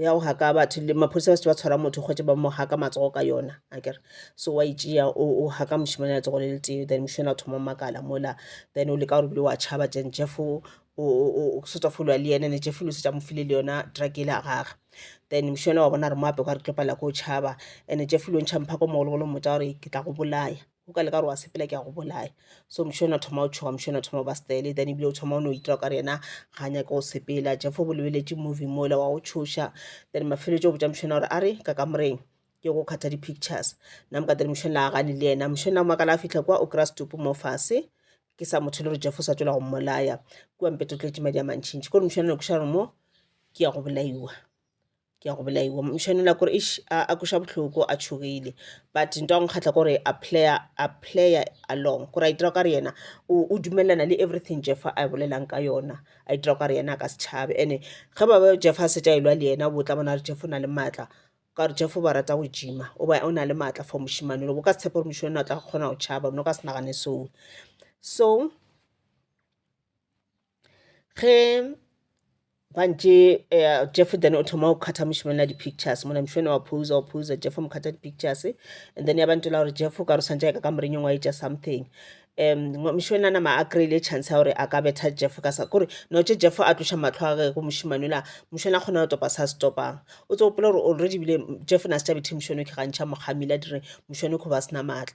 Speaker 1: ya go haka batho le maphodisa ba se ba tshwara motho kgwetše ba mo haka matsogo ka yona a kere so wa itšea e o haka mošemane ya tsogo le le tee then mošemane a thoma makala mola then o leka gore bile wa tšhaba jen jeff o setsa folo le yena ne jeff lo setsa mo file le yona truck ele a gage then mošemane wa bona re mo ape kwa re tlo palela ko tšhaba and jeff lo ntšha mphako mogologolo mmotsa gore ke tla go bolaya o ka leka gore wa sepela ke a go bolaya so moše o ne a thoma o tšhoga moše o ne a thoma o ba style then ebile o thoma o no itira o ka re yena ga a nyake go sepela jefo bo lebeletše movie mole wa go tšhoša then mafeletšo o botša mošona gore a re ka kamoreng ke go kgatha di-pictures nna moka then mošona a gane le yena mošona o makala a fitlha kwa o kry-a setupu mo fase ke sa motho le gore jefo sa tswela go mmolaya kua mpetotletse madi a mantšhintšhi kore mošona ne košare mo ke ya go bolaiwa ke ya go bolaiwa mošane la kore ish a a kweša bohloko a tšhogile but nto a nkgatla kore a player a player along kore a itira kare yena o o dumelelana le everything jeff a bolelang ka yona a itira kare yena a ka se tšhabe ene ge ba be jeff a šetše a elwa le yena o bo tla bona gore jeff o na le maatla ka gore jeff o ba rata go gym-a o ba o na le maatla for mošemane o ka se tshepe gore mošemane o tla kgona go tšhaba o no ka se nagane seo so ge gantši uh, jeff then o thoma go kgatha mošemane ya di-pictures mona mošemane wa posa wa posa jeff mo kgatha di-pictures and then ya ba ntola gore jeff o ka re swantse ya ka ka morenyong wa etša something um mošemane a nama a kry-ile chance ya gore a ka betha jeff ka sa kore notše jeff a tloša matlho a ge go mošemane ola mošemane a kgona go topa sa se topang o tse gopola gore already bile jeff na se tša bethe mošemane o kgantšha mokgamile a dire mošemane kgo ba sena maatla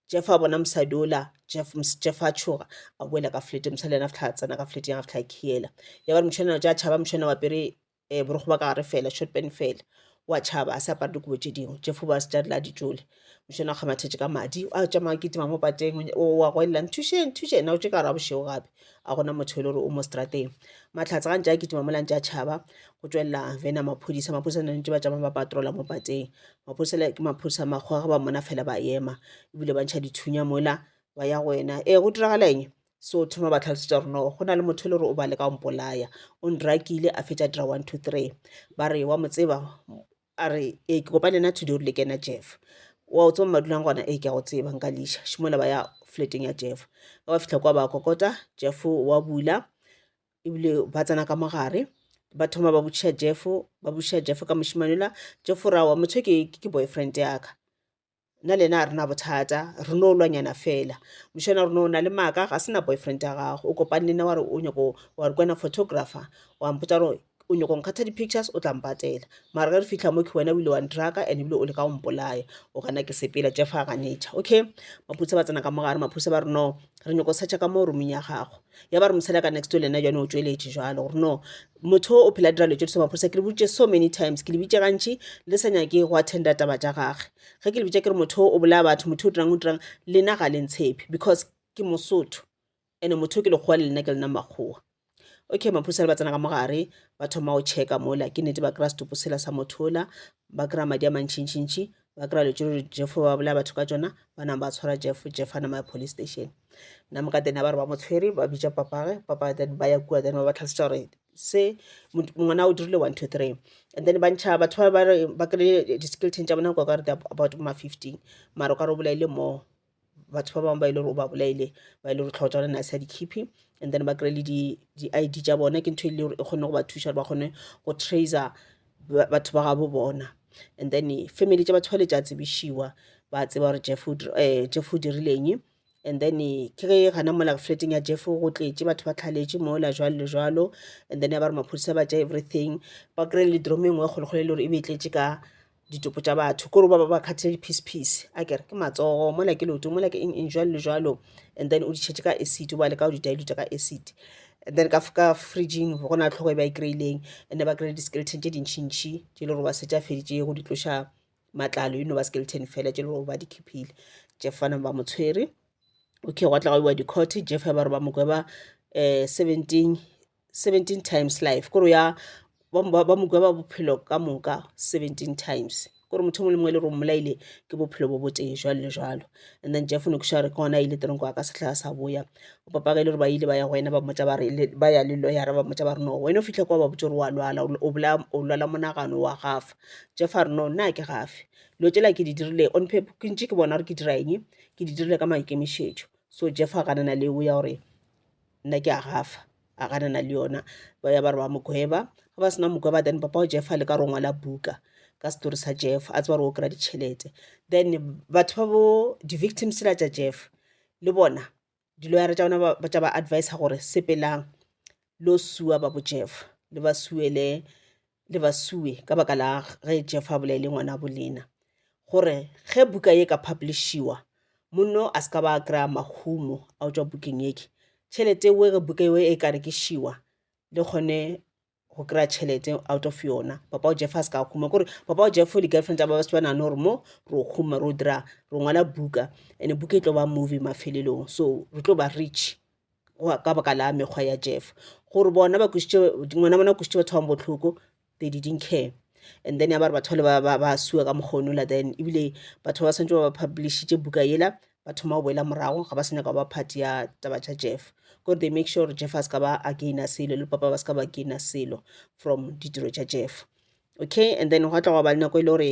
Speaker 1: Jeff a bona mosadi ola Jeff Jeff a tšhoga a boela ka flat mosadi yena fihla tsena ka flat ya fihla khiela ya ba mšhana ja tšhaba mšhana wa pere e eh, borogo ba ka gare fela short pen fela wa tšhaba a se apare dikobo tše dingwe Jeff ba se tšadila di tšole mšhana ga mathetše ka madi a tša ma kitima mo pateng wa go ella nthuše nthuše na o tše ka ra bošego gape a gona motho e le gore o mo strateng matlhatsa ga ntša kitima mo lantša tšhaba go tšwelela vena maphodisa maphodisa ne ntše ba tšama ba patrola mo pateng maphosela ke maphosa a makgowa ga ba mmona fela ba ema ebile ba ntšha dithunya mola ba ya go wena ee go diragala eng so thoma ba tlhalosetsa gore no go na le motho e le gore o ba le ka mpolaya o ndrakile a fetsa dira one two three ba re wa mo tseba a re ee ke kopane na today o rile ke ena jeff wa o tseba madulang gona ee ke a go tseba nka leša šimola ba ya flateng ya jeff ga ba fitlha kwa ba kokota jeff wa bula ebile ba tsena ka mo gare ba thoma ba botšiša jeffo ba botšiša jeffo ka mošimane la jeffo ra wa motho ke ke boyfriend yaka nna le ena a rena bothata re no lwanyana fela mošana rona o na le maaka ga sena boyfriend ya gago o kopane le nna wa re o nyako wa re kwena photographer wa mpotsa gore o nyako nkgatha di-pictures o tla mpatela mara ge re fitlha mo ke wena o ile wa ndraka and ebile o le ka go mpolaya o gana ke sepela jeff a ganetha okay maphodisa ba tsena ka mogare maphodisa ba re no re nyako searcha ka mo roomong ya gago ya ba re mosela ka next to lena jone o tšweletše jalo gore no motho o phela dira letse tse maphorisa ke le boditše so many times ke le bitše gantši le sa nyake go attenda taba tša gage ge ke le bitše ke re motho o bolaya batho motho o dirang o dirang lena ga le ntshepe because ke mosotho ene motho ke lekgowa le lena ke lena makgowa okay maphorisa le ba tsena ka mo gare ba thoma go checka mola ke nete ba kry-a setopo sela sa motho ola ba kry-a madi a mantšhintšhintšhi ba kry-a dilo tše gore jeff o be a bolaya batho ka tšona ba napa ba tshwara jeff jeff a nama ya police station nna moka then a ba re ba mo tshwere ba bitša papage papa then ba ya kua then ba ba tlhalosetša gore se ngwana o dirile one two three and then ba ntšha batho ba ba re ba kry-e di-skeleton tša bona kwa ka re about ma fifteen mara o ka re o bolaile more batho ba bangwe ba e le gore o ba bolaile ba e le gore tlhogo tsa bona a sa di khiphe and then ba kry-e le di-id tša bone ke ntho e le gore e kgone go ba thuša gore ba kgone go tracer batho ba gabo bona and then family tša batho ba le tša tsebišiwa ba tseba gore jeff um jeff o dirileng and then ke ge gona mola flateng ya jeff go tletše batho ba tlhaletše mola jwalo le jwalo and then ya ba re maphodisa ba tša everything ba kry-e le dromo e nngwe e kgolokgolo e le gore e be e tletše ka ditopo tša batho kore ba ba ba khathile di-piece piece a kere ke matsogo mola ke leoto mola ke eng eng jwalo le jwalo and then o di tšhetše ka acid o ba leka go di diluta ka acid and then ka ka fridging go na le tlhogo e ba e kry-ileng and ba kry-ile di-skeleton tše dintšhintšhi tše le gore ba setša feditše go di tloša matlalo you know ba skeleton fela tše le gore ba di khiphile jeff fana ba mo tshwere okay gwa tla go iwa di-court jeff ya ba re ba mo gweba um seventeen 17 times life kore ya ba mokwa ba bophelo ka moka 17 times kore motho mongwe le mongwe le gore mmolaile ke bophelo bo botee jwalo le jwalo and then jeff nokuša gore ke gona a ile teronko a ka setlhaa sa boya o papaka e le gore ba ile ba ya go wena ba mmotsa ba re ba ya le loyara ba mmotsa ba re no wena o fitlha kwa ba botse gore wa lwala o lwala monagano wa gafa jeff a re no nna ke gafe dilo tsela ke di dirile on paper ke ntse ke bona gore ke dira eng ke di dirile ka maikemišetšo so jeff a ganana le o ya gore nna ke a gafa a ganana le yona ba ya ba re ba mo gweba ga ba sena mo gweba then papa o jeff a le ka re o ngwala buka ka setori sa jeff a tseba re o kry-a ditšhelete then batho ba bo di-victim sela tša jeff le bona di-lawyer tša bona tša ba adviser gore sepelang lo sua ba bo jeff le ba suele le ba sue ka baka la ge Jeff a bolele ngwana bo lena gore ge buka ye ka publishiwa monno a se ka ba a kry-a mahumo a go tšwa bukeng eke tšhelete eo ge buka eo e ka rekišiwa le kgone go kry-a tšhelete out of yona papa o jeff a se ka huma kore papa o jeff di-girlfriend tsa ba se ba nagane gore mo ro huma ro dira ro ngwala buka and-e buka e tlo ba movie mafelelong so re tlo ba rich ka baka la mekgwa ya jeff gore bona ba kwešitše ngwana bona kwešitše batho bang bohloko they didn't care and then ya ba re batho ba ba ba sue ka mokgono la then ebile batho ba swantse ba ba publishitše buka yela ba thoma go boela morago ga ba se nyaka ba part ya taba tša jeff gore they make sure gore jeff a se ka ba againa selo le papa ba se ka ba againa selo from ditiro tša jeff okay and then gwa tla gwa ba le nako e le gore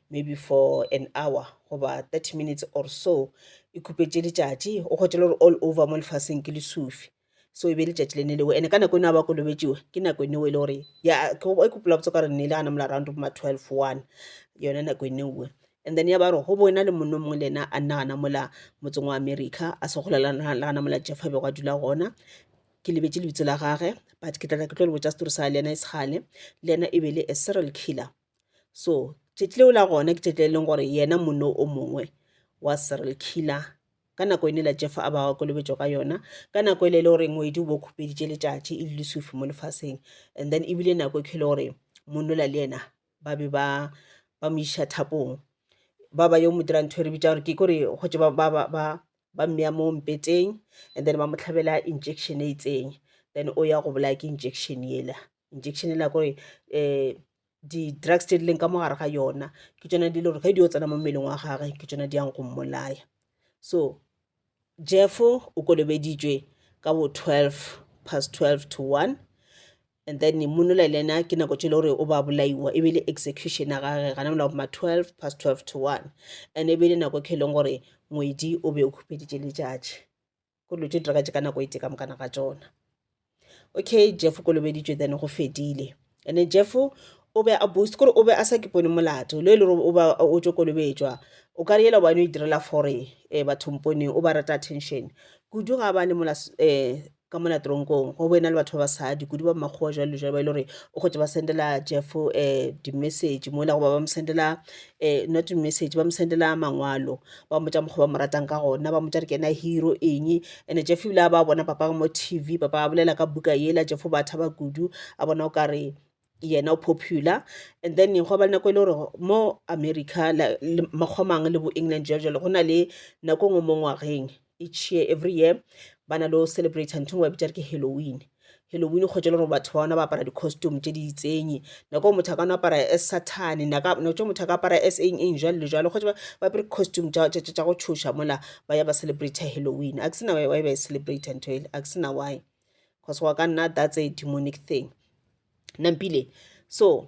Speaker 1: maybe for an hour goba 30 minutes or so e khupetše letšatši o kgotše le gore all over mo lefaseng ke lesufi so e be letšatši le ne leo ene ka nako eno a ba kolobetšiwe ke nako eneo e le gore ya e kopela botse ka gore ne e le gana mola round ma twelve one yone nako eneoe and then ya ba gore go bo ena le monno mongwe le ena a nna gana mola motseng wa america a se gola le gana mola jeff a bego a dula gona ke lebetse lebitso la gage but ke tlatla ke tlo le botsa setori sa le ena e segale le ena e be le a serial killer so tšatši leo la gona ke tšatši le e leng gore yena monno o mongwe wa serial killer ka nako e ne la jefa a ba wa kolobetšo ka yona ka nako e le e le gore ngwedi o bo khupeditše letšatši e le lesufi mo lefaseng and then ebile nako e khele gore monnola le yena ba be ba ba mo iša thapong ba ba yo mo dira ntho e re bitsa gore ke kore go tse ba ba ba ba ba mmeya mo mpeteng and then ba mo tlhabela injection e itseng then o ya go bolaya ke injection yela injection e la kore um di-drugs tše di leng ka mo gare ga yona ke tšona di le gore ge di yo tsena mo mmeleng wa gage ke tšona di yang go mmolaya so jeffo o kolobeditšwe ka bo twelve past twelve to one and then monola le ena ke nako tše le gore o ba bolaiwa e be le execution ya gage gana mola ma twelve past twelve to one and e be le nako e kheleng gore ngwedi o be o khupeditše letšatši ko dilo tše diragatše ka nako e tee ka mokana ga tsona okay jeff kolobeditšwe then go fedile and then jeff o be a boost kore o be a sa ke pone molato le e le gore o ba o tšo kolobetšwa o ka re yela bane o e direla fore um eh, bathong poneng o ba rata attention kudu ga ba le mola um ka mona tronkong go boena le batho ba basadi kudu ba makgowa jalo jalo ba e le gore o kgotse ba sendela jeff um di-message mola goba ba mo sendela um not message ba mo sendela mangwalo ba mmotša mokgwa ba mo ratang ka gona ba mmotša re ke ena hero eng ene jeff ebile a ba bona papa mo tv papa a bolela ka buka yela jeff o ba thaba kudu a bona o kare yena o popular and then go ba le nako e le gore mo america makgomang le bo england jalo jalo go na le nako e nngwe mo ngwageng each year every year ba na le o celebrate ntho ngwe ba bitša re ke halloween halloween kgotsa e le gore batho ba ona ba apara di-costume tse di itsenye nako motho a ka no apara as satane nako tse motho a ka apara as eng eng jalo le jalo kgotsa ba apere costume tsa go tshoša mola ba ya ba celebrate halloween a ke sena why ba e celebrate ntho ele a ke sena why because wa ka nna that's a demonic thing nampile so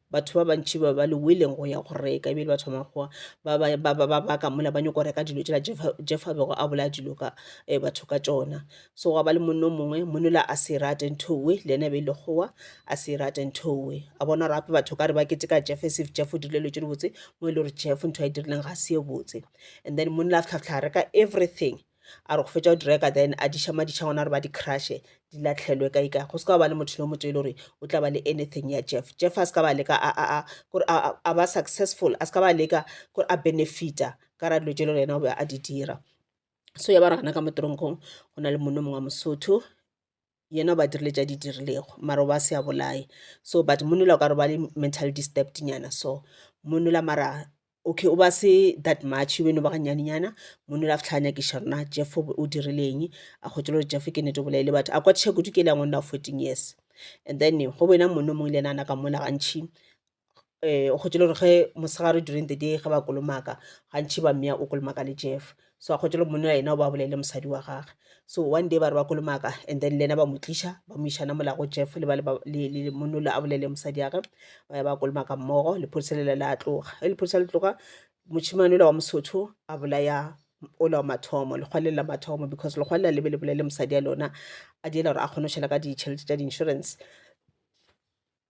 Speaker 1: batho ba bantši ba ba leweleng go ya go reka ebile ba thoma goa ba ba ba ba ba ka mola ba nyoko reka dilo tšela jeff a bego a bolaya dilo ka eh, batho ka tšona so gwa ba le monno mongwe monola a se rate nthowe le ene be e le goa a se rate nthowe a bona gore gape batho ka re ba kete ka jeff sef jeff o dirile lo tše di botse mo e le gore jeff ntho a e dirileng ga se e botse and then monola a fitlha fitlha reka everything a re go fetša go di reka then a diša madiša gona gore ba di crushe di latlhelwe ka ika go se ka ba le motho le motho e le gore o tla ba le anything ya jeff jeff a se ka ba leka gore a ba successful a se ka ba leka gore a benefita ka ra dilo tše le yena o be a di dira so ya ba re gana ka mo teronkong go na le monna mongwe wa mosotho yena o ba dirile tša di dirilego mara o ba se a bolaye so but monna o ka re ba le mental disturbed nyana so monna mara okay o ba se that much o no ba ga nnyane nyana monna a fitlha a nyakiša rena jeff o dirile eng a kgotše le gore jeff ke nnete o bolaile batho a kwatiša kudu ke le ya ngwanna wa fourteen years and then go boena monna o mongwe le yena a na ka mola gantšhi um o kgwetše le gore ge mosegare during the day ge ba kolomaka gantšhi ba mmea o kolomaka le jeff so a kgwetše le monna yena o ba bolele mosadi wa gage so one day ba re ba kolomaka and then le yena ba mo tliša ba mo išana molago jeff le ba le ba- le- le- le monna ole a bolele mosadi ya gage ba ya ba kolomaka mmogo lephodisa lela la tloga ge lephodisa le tloga mošemane ola wa mosotho a bolaya ola wa mathomo lekgwaleng la mathomo because lekgwale la lebe le bolele mosadi ya lona a diela gore a kgone go šhela ka ditšhelete tša di-insurance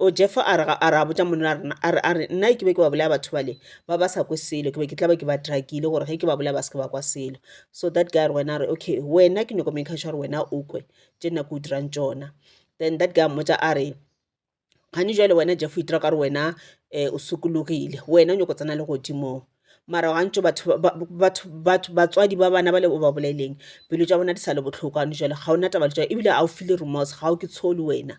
Speaker 1: O Jefa a re, ga, a re a botša monna rena, a re, a re, Nna ke be ke ba bolaya batho bale, ba ba sa kwe selo, ke be ke tla ba ke ba drakile, gore ge ke ba bolaya ba seke ba kwa selo. So that guy a re, wena, a re, okay, wena ke nyoko maker sure gore wena o kwe tše nna ke o dirang tšona. Then that guy a mmotša a re, gane jwale wena Jeff o itira ka gore wena um o sokologile, wena o nyoko tsena le godimong. Mara gantši batho, ba, ba, batho, batho, batswadi ba bana bale o ba bolaileng, pelo tša bona di sa le bohloko gane jwale, ga o na taba le tšona, ebile ga o feel-e remorse, ga o ke tsholo wena.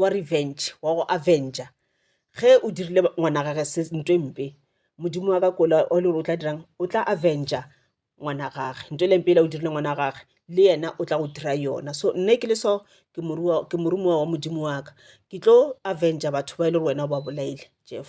Speaker 1: wa revenge wa go avenger ge o dirile ngwana gage se nto e mpe modimo wa ka kola o le gore o tla dirang o tla avenger ngwana gage nto e leng pele o dirile ngwana gage le yena o tla go dira yona so nne ke le so ke moruwa ke morumowa wa modimo wa ka ke tlo avenger batho ba e le gore wena o ba bolaile jeff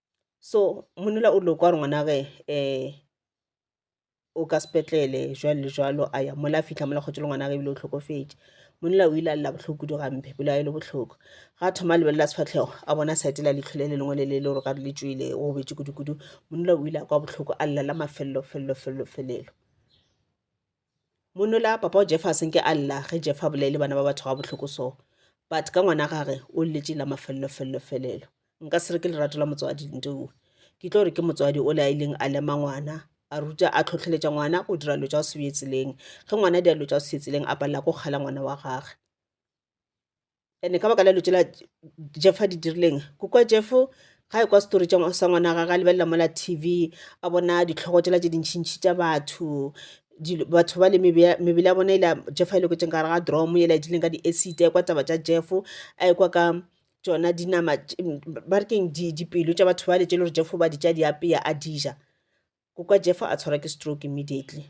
Speaker 1: so monna o ile go kwa gore ngwanage um o ka sepetlele jwalo le jwalo a ya mola a fitlha mola kgotse le ngwanage ebile o tlhokofetše monna o ile a lela bohloko kudu gampe pelo ya e le bohloko ga a thoma a lebelela sefatlhego a bona site la leitlho le le lengwe le le le gore gare le tswile o bobetse kudukudu monna o ile a kwa bohloko a lela la mafelelo felelo felelo felelo Monola, Papa o Jefa a se nke a lla ge Jefa a bolele bana ba batho gabohloko so. But ka ngwana gage o lletše la mafellofellofelelo. Nka se re ke lerato la motswadi, Ntoue. Ke tlo re ke motswadi ole a ileng a lema ngwana, a ruta, a tlhohleletša ngwana go dira dilo tša go se bje tseleng. Ge ngwana a dira dilo tša go se bje tseleng a palela ko kgala ngwana wa gage. ene ka baka la lutše la jeff a di dirileng ko kwa jeff ga e kwa setori sa ngwana ga ga lebelela mola tv a bona ditlhogo tsela tse dintšhintšhi tša batho batho ba le mebele ya bona e la jeff a ile kotseng gare ga dromo e la e tlileng ka di-acid a e kwa taba tša jeff a e kwa ka tsona dinama ba re keng dipelo tša batho ba le tše le gore jeff ba di tša di apeya a dija ko kwa jeff a tshwarwa ke stroke immediately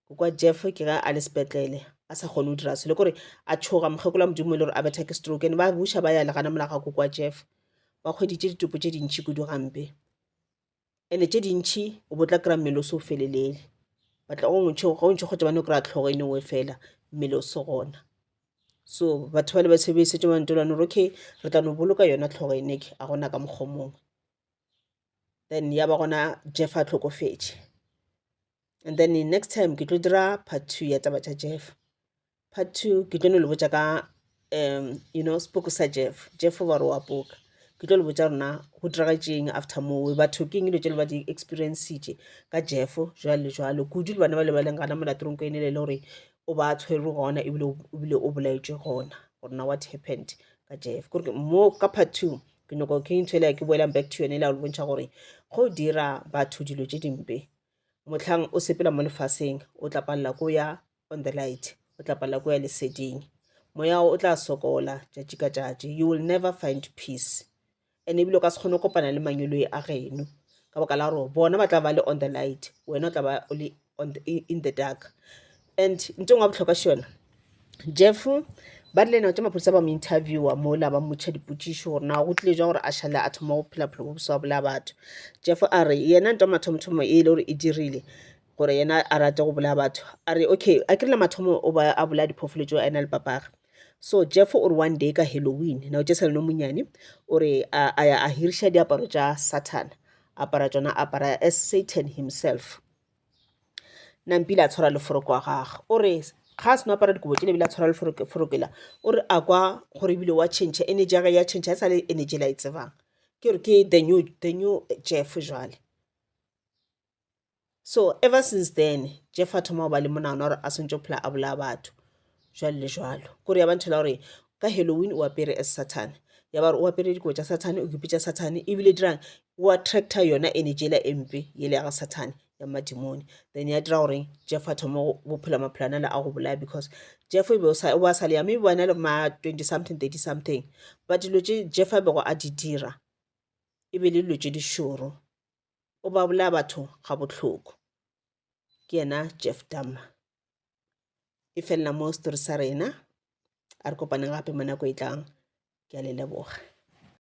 Speaker 1: go kwa jeff ke ge a le sepetlele a sa kgone go dira selo kore a tshoga mokgekolo wa modimo e le gore a betha ke stroke ene ba buša ba ya legana mola ga ko kwa jeff ba kgweditše ditopo tše dintšhi kudu gampe ene tše dintšhi o botla kry-a mmele o se o felelele batla go ntšho kgotsa bane o kry-a tlhogo e nengwe fela mmele o se gona so batho ba le ba sebedisetse mantolwane gore okay re tla no boloka yona tlhogo e neke a gona ka mokgwa mongwe then ya ba gona jeff a tlhokofetše and then next time ke tlo dira part two ya taba tša jeff part two ke tlo no le botša ka um you know spoke sa jeff jeff ba re wa poka ke tlo le botša rona go diragetseng after mowe batho ke eng dilo tse le ba di experiencitše ka jeff jwale le jwalo kudu le bana ba le ba leng gana molatorong ko ene le le gore o ba tshwerwe gona ebile o bolaetšwe gona gore na what happened ka jeff kore mo ka part two Ke nyoko ke ntho ela ke boelang back to yone ela o le bontšha gore go dira batho dilo tše dimpe motlhang o sepela mo lefaseng o tla palela ko ya on the light o tla palela ko ya leseding moya o tla sokola tšatši ka tšatši you will never find peace and ebile o ka se kgone go kopana le manyoloi a geno ka baka la gore bona ba tla ba le on the light wena o tla ba o le on the, in the dark and nto ngwe wa bohlokwa šona jeff ba rile nao tša maphodisa ba mo interviewa mola ba mmotšha dipotšišo gore na go tlile jwa gore a šale a thoma go phela bophelo bo bosa wa bolaya batho jeff a re yena nto mathomothomo e le gore e dirile gore yena a rate go bolaya batho a re okay a krile mathomo o ba a bolaya diphoofolo tšeo a ena le papaga so jeff o re one day ka halloween nao tša seleno monyane o re a ya a hiriša diaparo tša sathana apara tsona apara as satan himself Nampile a tshwara leforoko wa gagwe o re ga a seno apara dikobo tšele ebile a tshwara leforoko la o re a kwa gore ebile wa change energy ya gage ya change e sa le energy la e tsebang ke gore ke the new the new Jeff jwale so ever since then Jeff a thoma go ba le monagano wa gore a swantse go phela a bolaya batho. jwalo le jwalo kore ya ba nthela gore ka halloween o apere as sathane ya ba gore o apere dikobo tša sathane o kipitša sathane ebile dirang o attracta yona energy ela empe ele ya ga sathane ya madimone then ya dira gore jeff a thoma bophela maphelo ana le a go bolaya because jeff e be o sa wa sa le ya maybe wa na le ma 20 something 30 something but dilo tše jeff a bego a di dira e be le dilo tše dišoro o ba bolaya batho ga bohloko ke yena jeff dama e felela mo story sa rena a re kopane gape mo nako e tlang ke a le leboga